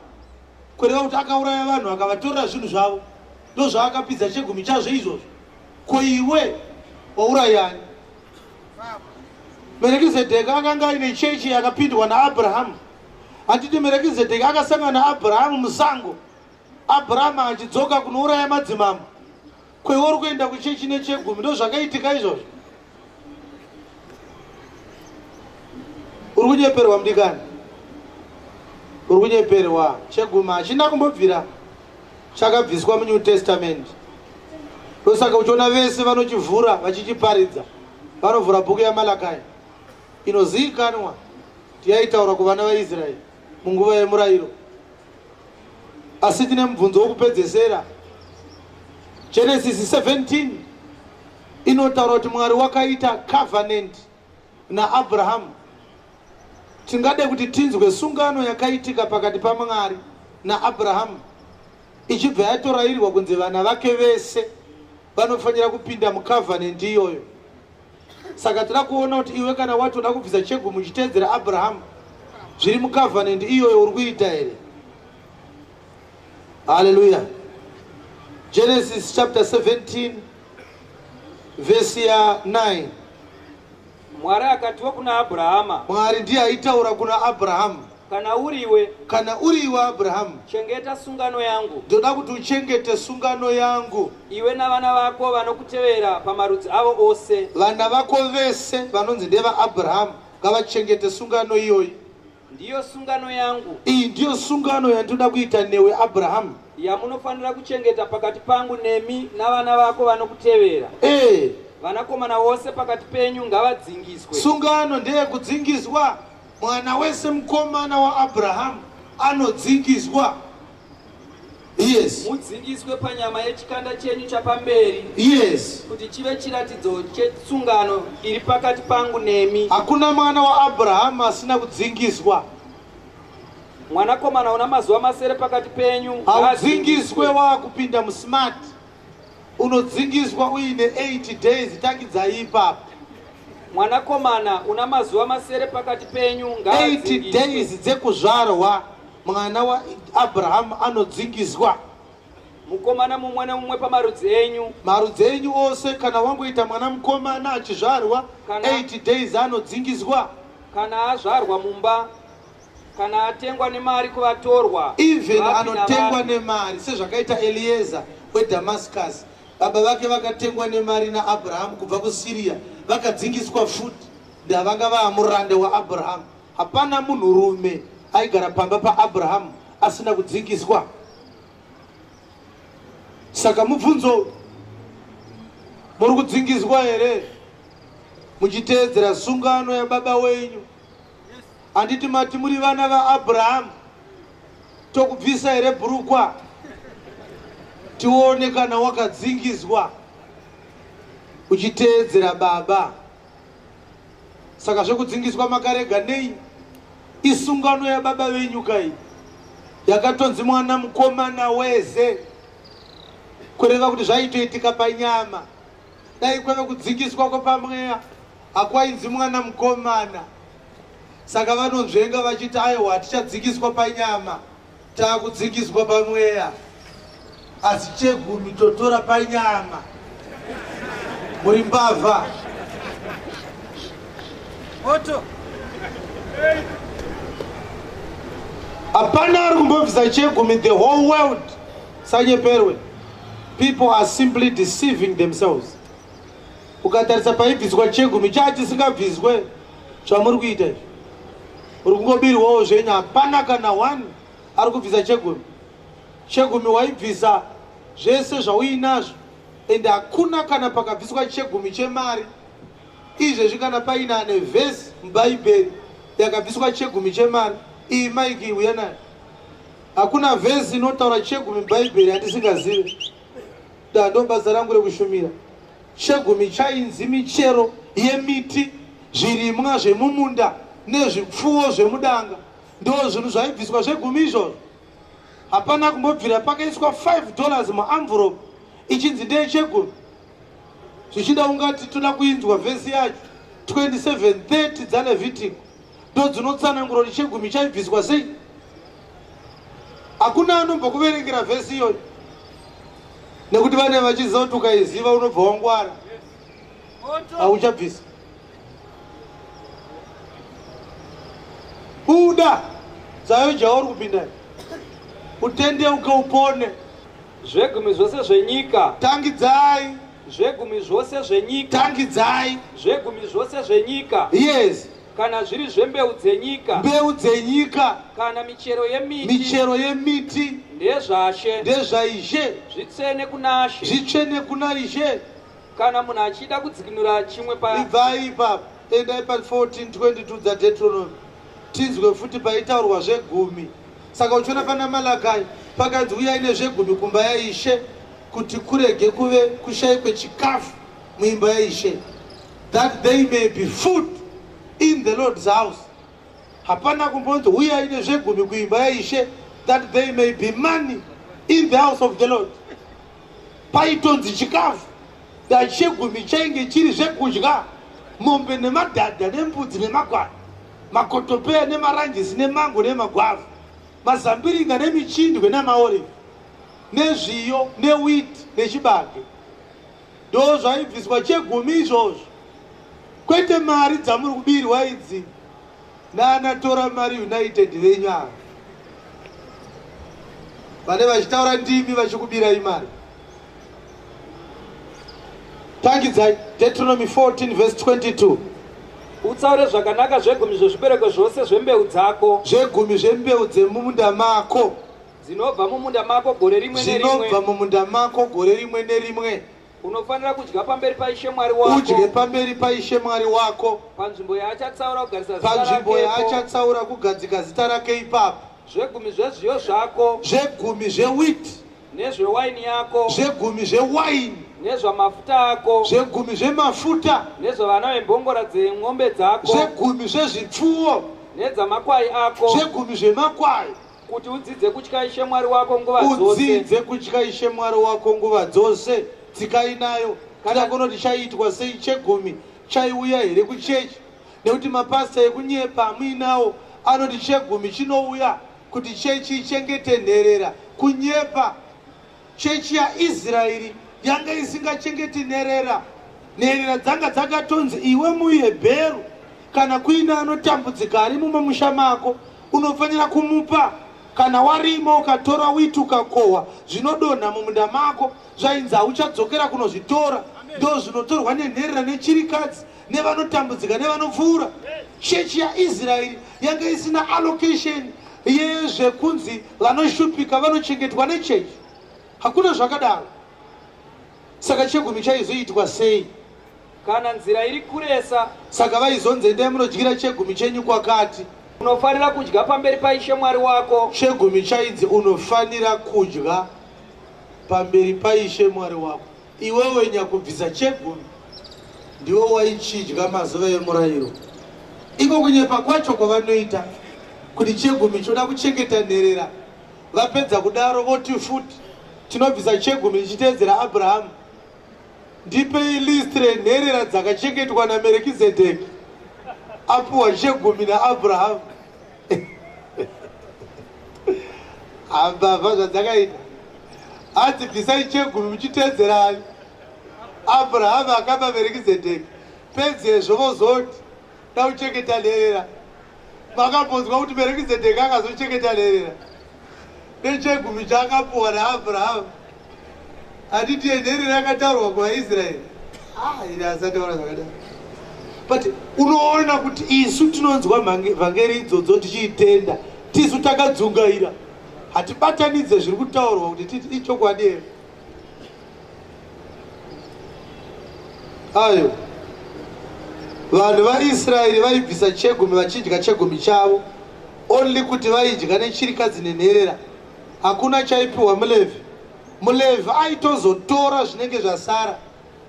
kureva kuti akauraya vanhu akavatorera zvinhu zvavo ndozvaakapidza chegumi chazvo izvozvo ko iwe waurayani merekizedheka akanga aine chechi yakapindwa naabrahamu handiti merekizedheki akasangana naabrahamu musango abrahamu achidzoka kunouraya madzimambo kwewe uri kuenda kuchechi nechegumi ndo zvakaitika izvozvo uri kunyeperwa mudikani uri kunyeperwa chegumi hachina kumbobvira chakabviswa munew testament ndosaka uchiona vese vanochivhura vachichiparidza vanovhura bhuku yamalakai inoziikanwa yaitaura kuvana vaisraeri munguva yemurayiro asi tine mubvunzo wokupedzesera genesis 17 inotaura kuti mwari wakaita covenant naabrahamu tingade kuti tinzwe sungano yakaitika pakati pamwari naabrahamu ichibva yatorairwa kunzi vana vake vese vanofanira kupinda mucovenant iyoyo saka tira kuona kuti iwe kana watoda kubvisa chegumi uchiteedzera abrahamu zviri mucovenant iyoyo uri kuita here haleluya genesis chapter 17 vhesi ya 9 mwari akatiwo kuna abrahama mwari ndiye aitaura kuna abrahamu Kana uri iwe. Kana uri iwe Abrahamu. Chengeta sungano yangu. Ndoda kuti uchengete sungano yangu. Iwe navana vako vanokutevera pamarudzi avo ose. Vana vako vese vanonzi ndevaAbrahamu ngavachengete sungano iyoyi. Ndiyo sungano yangu. Iyi ndiyo sungano yandinoda kuita newe Abrahamu. Yamunofanira kuchengeta pakati pangu nemi navana vako vanokutevera. Eh. Vanakomana vose pakati penyu ngavadzingiswe. Sungano ndeyekudzingiswa. Mwana wese mukomana waAbrahamu anodzingiswa. Yes. Mudzingiswe panyama yechikanda chenyu chapamberi. Yes. Kuti chive chiratidzo chetsungano iri pakati pangu nemi. Hakuna mwana waAbrahamu asina kudzingiswa. Mwanakomana una mazuva masere pakati penyu. Haudzingiswe wakupinda musmart. Unodzingiswa uine 8 days takidzai ipapo. Mwanakomana una mazuva masere pakati penyu ngaadzingiswe. 8 days dzekuzvarwa mwana waAbrahamu anodzingiswa. Mukomana mumwe nemumwe pamarudzi enyu. Marudzi enyu ose kana wangoita mwana mukomana achizvarwa 8 days anodzingiswa. Kana azvarwa mumba kana atengwa nemari kuvatorwa even anotengwa nemari sezvakaita elieza wedamascus baba vake vakatengwa nemari naabrahamu kubva kusiriya vakadzingiswa futi ndavanga vaamurande waabrahamu hapana munhurume aigara pamba paabrahamu asina kudzingiswa saka mubvunzo muri kudzingiswa here muchiteedzera sungano yababa wenyu handiti mati muri vana vaabrahamu tokubvisa here bhurukwa tione kana wakadzingiswa uchiteedzera baba saka zvekudzingiswa makarega nei isungano yababa venyu kai yakatonzi mwana mukomana weze kureva kuti zvaitoitika panyama Dai kwave kudzikiswa kwepamweya hakwainzi mwana mukomana, saka vanonzvenga vachiti aiwa hatichadzikiswa panyama, taakudzikiswa pamweya. Asi chegumi totora panyama, muri mbavha moto hapana ari kumbobvisa chegumi the whole world Sanyeperwe. People are simply deceiving themselves. Ukatarisa paibviswa chegumi chatisingabviswe zvamuri kuita izvi. Uri kungobirwawo zvenyu hapana kana one ari kubvisa chegumi. Chegumi waibvisa zvese zvauinazvo and hakuna kana pakabviswa chegumi chemari izvezvi kana paina ane vhesi mubhaibheri yakabviswa chegumi chemari iyi maiki uya nayo Hakuna vhezi inotaura chegumi mubhaibheri yandisingazive. Da ndobasa rangu rekushumira. Chegumi chainzi michero yemiti, zvirimwa zvemumunda nezvipfuwo zvemudanga. Ndoo zvinhu zvaibviswa zvegumi izvozvo. Hapana kumbobvira pakaiswa 5 dollars muamvuropu ichinzi ndeyechegumi. Zvichida ungati toda kuinzwa vhesi yacho 27:30 dzaLevitiko. ndodzinotsanangura kuti chegumi chaibviswa sei hakuna anombokuverengera vhesi iyoyo nekuti vane vachiziva kuti ukaiziva unobva wangwara hauchabvisa buda dzayo jauri kupinda utendeuke upone zvegumi zvose zvenyika tangidzai zvegumi zvose zvenyika tangidzai zvegumi zvose zvenyika yes kana zviri zvembeu dzenyika mbeu dzenyika kana michero yemiti michero yemiti ndezvashe ndezvaishe zvitsvene kuna she zvitsvene kuna ishe kana munhu achida kudzikinura chimwe pa ibvai ipapo endai pa 1422 dzadetronomy tinzwe futi paitaurwa zvegumi saka uchiona pana malakai pakanzi uyai nezvegumi kumba yaishe kuti kurege kuve kushaikwe chikafu muimba yaishe that they may be food in the lord's house hapana kumbonzi huyai nezvegumi kuimba yaishe that they may be money in the house of the lord paitonzi chikafu that chegumi chainge chiri zvekudya mombe nemadhadha nembudzi nemagwara makotopeya nemaranjisi nemango nemagwavha mazambiringa nemichindwe namaorive nezviyo newit nechibage ndo zvaibviswa chegumi izvozvo kwete mari dzamuri kubirwa idzi naanatora mari united venyu ava vane vachitaura ndimi vachikubirai mari tangidzai deuteronomy 14 vese 22 utsaure zvakanaka zvegumi zvezvibereko zvose zvembeu dzako zvegumi zvembeu dzemumunda mako Dzinobva mumunda mako gore rimwe nerimwe. Zvinobva mumunda mako gore rimwe nerimwe. Unofanira kudya pamberi paIshe Mwari wako. Udye pamberi paIshe Mwari wako. Panzvimbo yaachatsaura kugarisa zita rake. Panzvimbo yaachatsaura kugadzika zita rake ipapo. Zvegumi zvezviyo zvako. Zvegumi zvewiti. Nezvewaini yako. Zvegumi zvewaini nezvamafuta ako zvegumi zvemafuta nezvevana vembongora dzemombe dzako zvegumi zvezvipfuwo nedzamakwai ako zvegumi zvemakwai Kuti udzidze kutya Ishe Mwari wako nguva dzose. Udzidze kutya Ishe Mwari wako nguva dzose. Tsika inayo kana kunoti chaiitwa sei chegumi chaiuya here kuchechi nekuti mapasita ekunyepa amuinawo anoti chegumi chinouya kuti chechi ichengete nherera kunyepa Chechi yaIsraeri yanga isingachengeti nherera. Nherera dzanga dzakatonzi iwe muHebheru kana kuine anotambudzika ari mumwe musha mako unofanira kumupa kana warima ukatora witi ukakohwa zvinodonha mumunda mako zvainzi hauchadzokera kunozvitora ndo zvinotorwa nenherera nechirikadzi nevanotambudzika nevanopfuura chechi yaisraeri yange isina allocation yezvekunzi vanoshupika vanochengetwa nechechi hakuna zvakadaro saka chegumi chaizoitwa sei kana nzira iri kuresa saka vaizonzi endai munodyira chegumi chenyu kwakati unofanira kudya pamberi paishe mwari wako chegumi chainzi unofanira kudya pamberi paishe mwari wako Iwewe nyakubvisa chegumi ndiwo waichidya mazuva emurayiro. Iko kunyepa kwacho kwavanoita kuti chegumi choda kuchengeta nherera, vapedza kudaro voti futi tinobvisa chegumi tichiteedzera Abrahamu. Ndipei list renherera dzakachengetwa naMerikizedheki apuwa chegumi naAbrahamu. ambavha zvadzakaita hanzi bvisai chegumi muchiteedzerani abrahamu akaba verekizedheki pedzezvo vozoti da kuchengeta nherera vakambonzwa kuti verekizedheki akazochengeta nherera nechegumi chaakapuwa naabrahamu handiti enheri rakataurwa kuvaisraeri ah, iri asataura zvakadaro but unoona kuti isu tinonzwa vhangeri idzodzo tichiitenda tisu takadzungaira hatibatanidze zviri kutaurwa kuti titi ichokwadi here ayo vanhu vaisraeri vaibvisa chegumi vachidya chegumi chavo only kuti vaidya nechirikadzi nenherera hakuna chaipiwa mulevhi mulevhi aitozotora zvinenge zvasara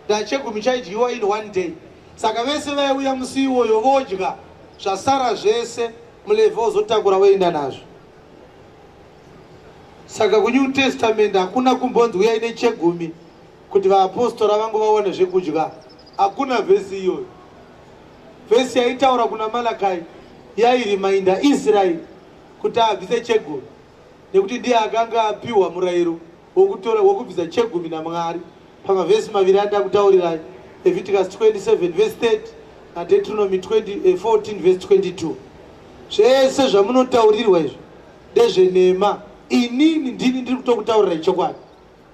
ndachegumi chaidyiwa in one day saka vese vaiuya musi iwoyo vodya zvasara zvese mulevhi ozotakura woenda nazvo saka kunew testament hakuna kumbonzi uyai nechegumi kuti vaapostora vangu vaone zvekudya hakuna vhesi iyoyo vhesi yaitaura kuna malakai yairimainda israeri kuti abvise chegumi nekuti ndiye akanga apiwa murayiro wokutora wokubvisa chegumi namwari pamavhesi maviri andakutaurirai leviticus 27 vhesi 30 nadetronomy 14 eh, vhesi 22 zvese zvamunotaurirwa izvo ndezvenhema inini ndini ndiri kutokutaurirai chokwadi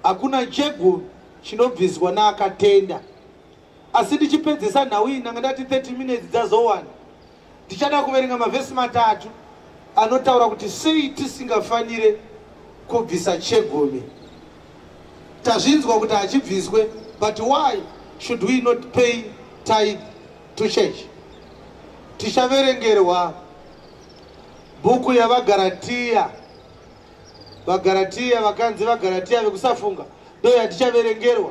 hakuna chegumi chinobviswa naakatenda asi ndichipedzisa nhau iyi ndanga ndati 30 minutes dzazowana ndichada kuverenga mavhesi matatu anotaura kuti sei tisingafanire kubvisa chegumi tazvinzwa kuti hachibviswe but why should we not pay tithe to church tichaverengerwa bhuku yavagaratiya vagaratiya vakanzi vagaratiya vekusafunga ndoyatichaverengerwa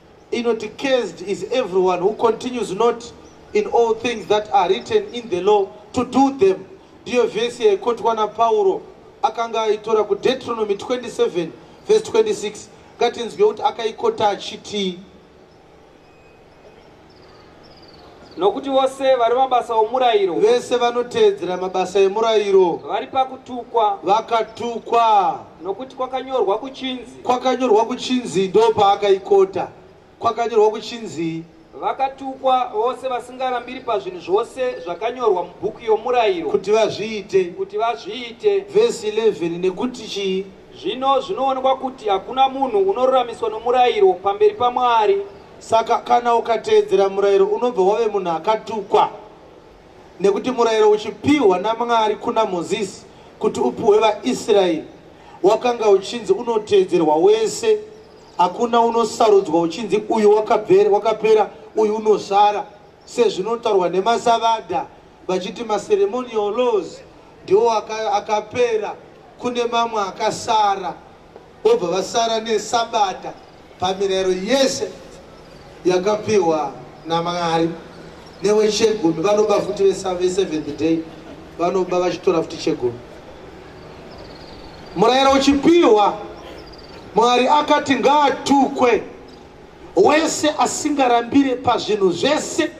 inoti cursed is everyone who continues not in all things that are written in the law to do them ndiyo vhesi yaikotwa napauro akanga aitora kudeuteronomy 27 vhesi 26 ngatinzwe kuti akaikota achitii nokuti vose vari mabasa omurayiro vese vanoteedzera mabasa emurayiro vari pakutukwa vakatukwa nokuti kwakanyorwa kuchinzi kwakanyorwa kuchinzi ndopaakaikota kwakanyorwa kuchinzi vakatukwa vose vasingarambiri pazvinhu zvose zvakanyorwa mubhuku yomurayiro kuti vazviite kuti vazviite vhesi 11 nekuti chii zvino zvinoonekwa kuti hakuna munhu unoruramiswa nomurayiro pamberi pamwari Saka kana ukateedzera murayiro unobva wave munhu akatukwa, nekuti murayiro uchipihwa naMwari kuna Mozisi kuti upuhwe vaIsraeri wakanga uchinzi unoteedzerwa wese, hakuna unosarudzwa uchinzi uyu wakapera, wakapera uyu unosara, sezvinotaurwa nemasavadha vachiti maceremonial laws ndiwo akapera, kune mamwe akasara. vobva vasara nesabata pamirayiro yese yakapiwa namwari newechegumi vanoba futi veseventh day vanoba vachitora futi chegumi murayiro uchipiwa mwari akati ngaatukwe wese asingarambire pazvinhu zvese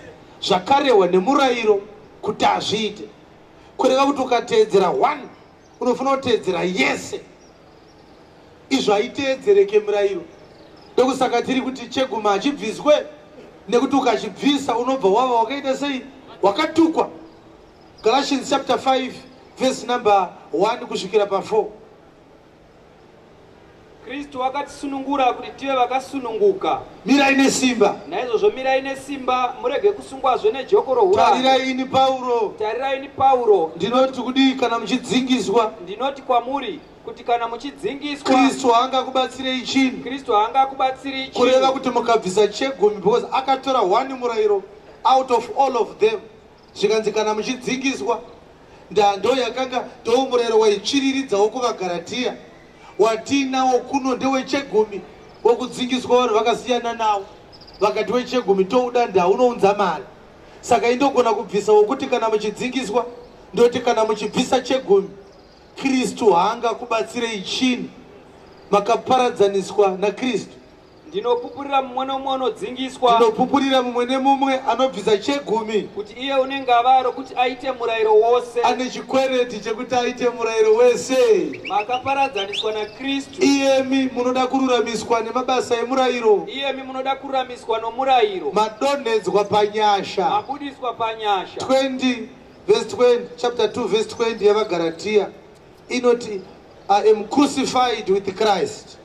zvakarehwa nemurayiro kuti azviite kureva kuti ukateedzera one unofanira kuteedzera yese izvo haiteedzereke murayiro ndokusaka tiri kuti cheguma hachibviswe nekuti ukachibvisa unobva wava wakaita sei wakatukwa galatians chapter 5 vhesi number 1 kusvikira pa 4 Kristu wakatisunungura kuti tive vakasununguka. Mirai nesimba. Naizvozvo mirai nesimba, murege kusungwazve nejoko rouranda. Tarirai ini Pauro. Tarirai ini Pauro. Ndinoti kudii kana muchidzingiswa? Ndinoti kwamuri kuti kana muchidzingiswa kristu haangakubatsirei chinhu kristu haangakubatsirei chinhu kureva kuti mukabvisa chegumi because akatora one murayiro out of all of them Zvikanzi kana muchidzikiswa ndando yakanga ndoumurero waitsviriridzawo kuvaGaratia, watiinawo kuno ndewechegumi, wokudzikiswa vanhu vakasiyana nawo vakati wechegumi touda nda unounza mari saka indogona kubvisa wokuti kana muchidzikiswa ndoti kana muchibvisa chegumi kristu haanga kubatsirei chini makaparadzaniswa nakristu Ndinopupurira mumwe nomumwe anodzingiswa. Ndinopupurira mumwe nemumwe anobvisa chegumi. Kuti iye une ngavara rokuti aite murayiro wose. Ane chikwereti chekuti aite murayiro wese. Makaparadzaniswa naKristu. Iyemi munoda kururamiswa nemabasa emurayiro. Iyemi munoda kururamiswa nomurayiro. Madonhedzwa panyasha. Mabudiswa panyasha. 20 verse 20 chapter 2 verse 20 yavaGaratia inoti I am crucified with Christ.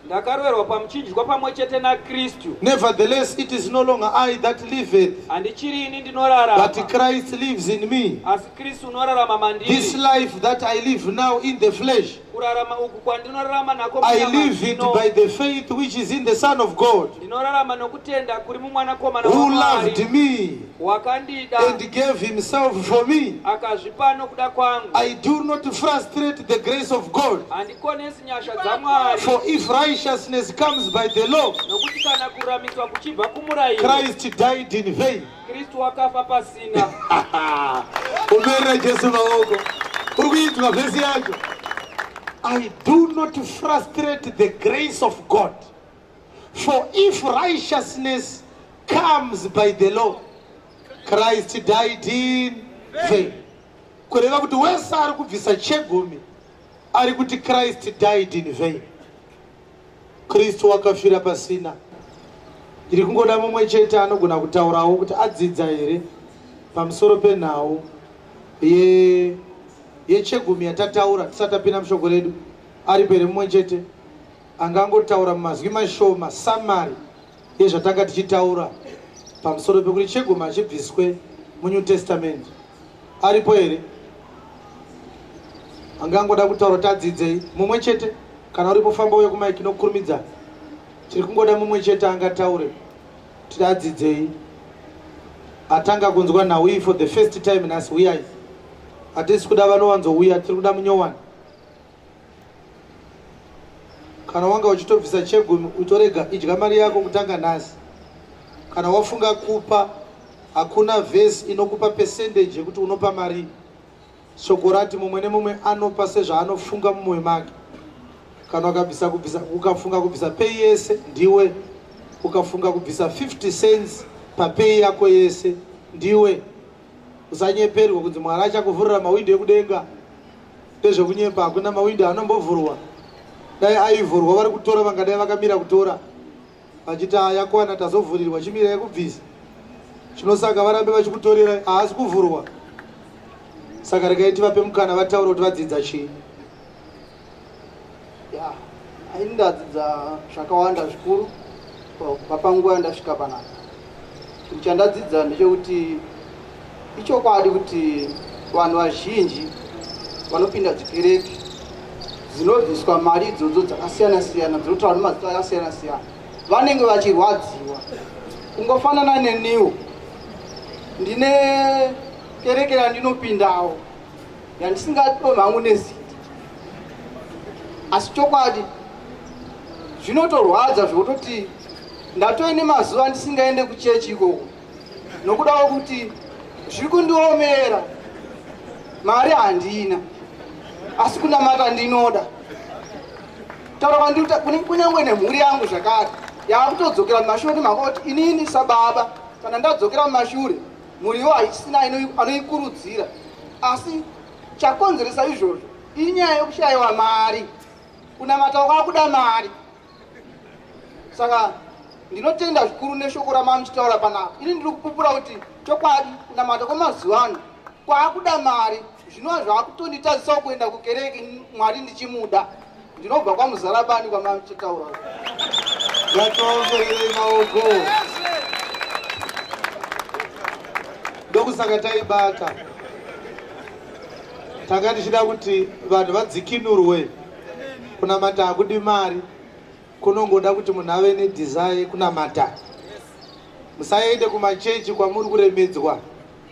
Ndakaroverwa pamuchinjwa pamwe chete naKristu. Nevertheless it is no longer I that liveth. Handichiri ini ndinorarama. But Christ lives in me. Asi Kristu unorarama mandiri. This life that I live now in the flesh. Kurarama uku kwandinorarama nako I live it by the faith which is in the Son of God. Ndinorarama nokutenda kuri mumwanakomana waMwari. Who loved me. Wakandida. And gave himself for me. Akazvipa nokuda kwangu. I do not frustrate the grace of God. Handikonesi nyasha dzaMwari. For if righteousness comes by the law, nokuti kana kuramiswa kuchibva kumurayiro, Christ died in vain. Kristu wakafa pasina. Umerera Jesu maoko. Uri kuinzwa vhesi yacho. I do not frustrate the grace of God. For if righteousness comes by the law, Christ died in vain. Kureva kuti wese ari kubvisa chegumi ari kuti Christ died in vain. Kristu wakafira pasina. Ndiri kungoda mumwe chete anogona kutaurawo kuti adzidza here pamusoro penhau ye yechegumi yatataura tisati tapinda mushoko redu aripo here mumwe chete angangotaura mumazwi mashoma samari yezvatanga tichitaura pamusoro pekuti chegumi achibviswe munew testament aripo here anga angoda kutaura kuti adzidzei mumwe chete kana uripo famba uye kumaiki nokukurumidza tiri kungoda mumwe chete angataure kuti adzidzei atanga kunzwa nhau iyi for the first time nhasi huyai hatisi kuda vanowanzouya tiri kuda munyowani kana wanga uchitobvisa chegumi utorega idya mari yako kutanga nhasi kana wafunga kupa hakuna vhesi inokupa pesendeji yekuti unopa mari shoko rati mumwe nemumwe anopa sezvaanofunga mumwe make kana ukabvisa kubvisa ukafunga kubvisa peyi yese ndiwe ukafunga kubvisa 50 cents papeyi yako yese ndiwe usanyeperwe kunzi mwari achakuvhurira mawindo ekudenga ndezvekunyepa hakuna mawindow anombovhurwa dai aivhurwa vari kutora vangadai vakamira kutora vachiti ayakwana tazovhurirwa chimira yekubvisa chinosaka varambe vachikutorera haasi kuvhurwa saka regai tivape mukana vataure kuti vadzidza chii ya ini ndadzidza zvakawanda zvikuru kubva panguva yandasvika panapa chinhu chandadzidza ndechekuti ichokwadi kuti vanhu vazhinji vanopinda dzikereke dzinobviswa mari idzodzo dzakasiyana siyana dzinotaura nemazita akasiyana siyana vanenge vachirwadziwa kungofanana neniwo ndine kereke yandinopindawo yandisingadomi hangu neziti asi chokwadi zvinotorwadza zvokutoti ndatoine mazuva ndisingaende kuchechi ikoko nokuda kwekuti zviri kundiomera mari handina asi kunamata ndinoda taura kunyange nemhuri yangu zvakare yaakutodzokera mumashuri mhaka kuti inini sababa kana ndadzokera mumashure mhuriwo haisina anoikurudzira asi chakonzeresa izvozvo inyaya yokushayiwa mari kunamata wakakuda mari saka ndinotenda zvikuru neshoko ramamuchitaura panapa ini ndiri kupupura kuti chokwadi kunamata kwemazuva ano kwaakuda mari zvinova zvaakutonditazisawo kuenda kukereke mwari ndichimuda Ndinobva kwamuzala bani kwamachitaura. Vatoverei maoko. Ndokusaka taibata. Tanga tichida kuti vanhu vadzikinurwe kunamata hakudi mari kunongoda kuti munhu ave nedhizai kunamata musaende kumachechi kwamuri kuremedzwa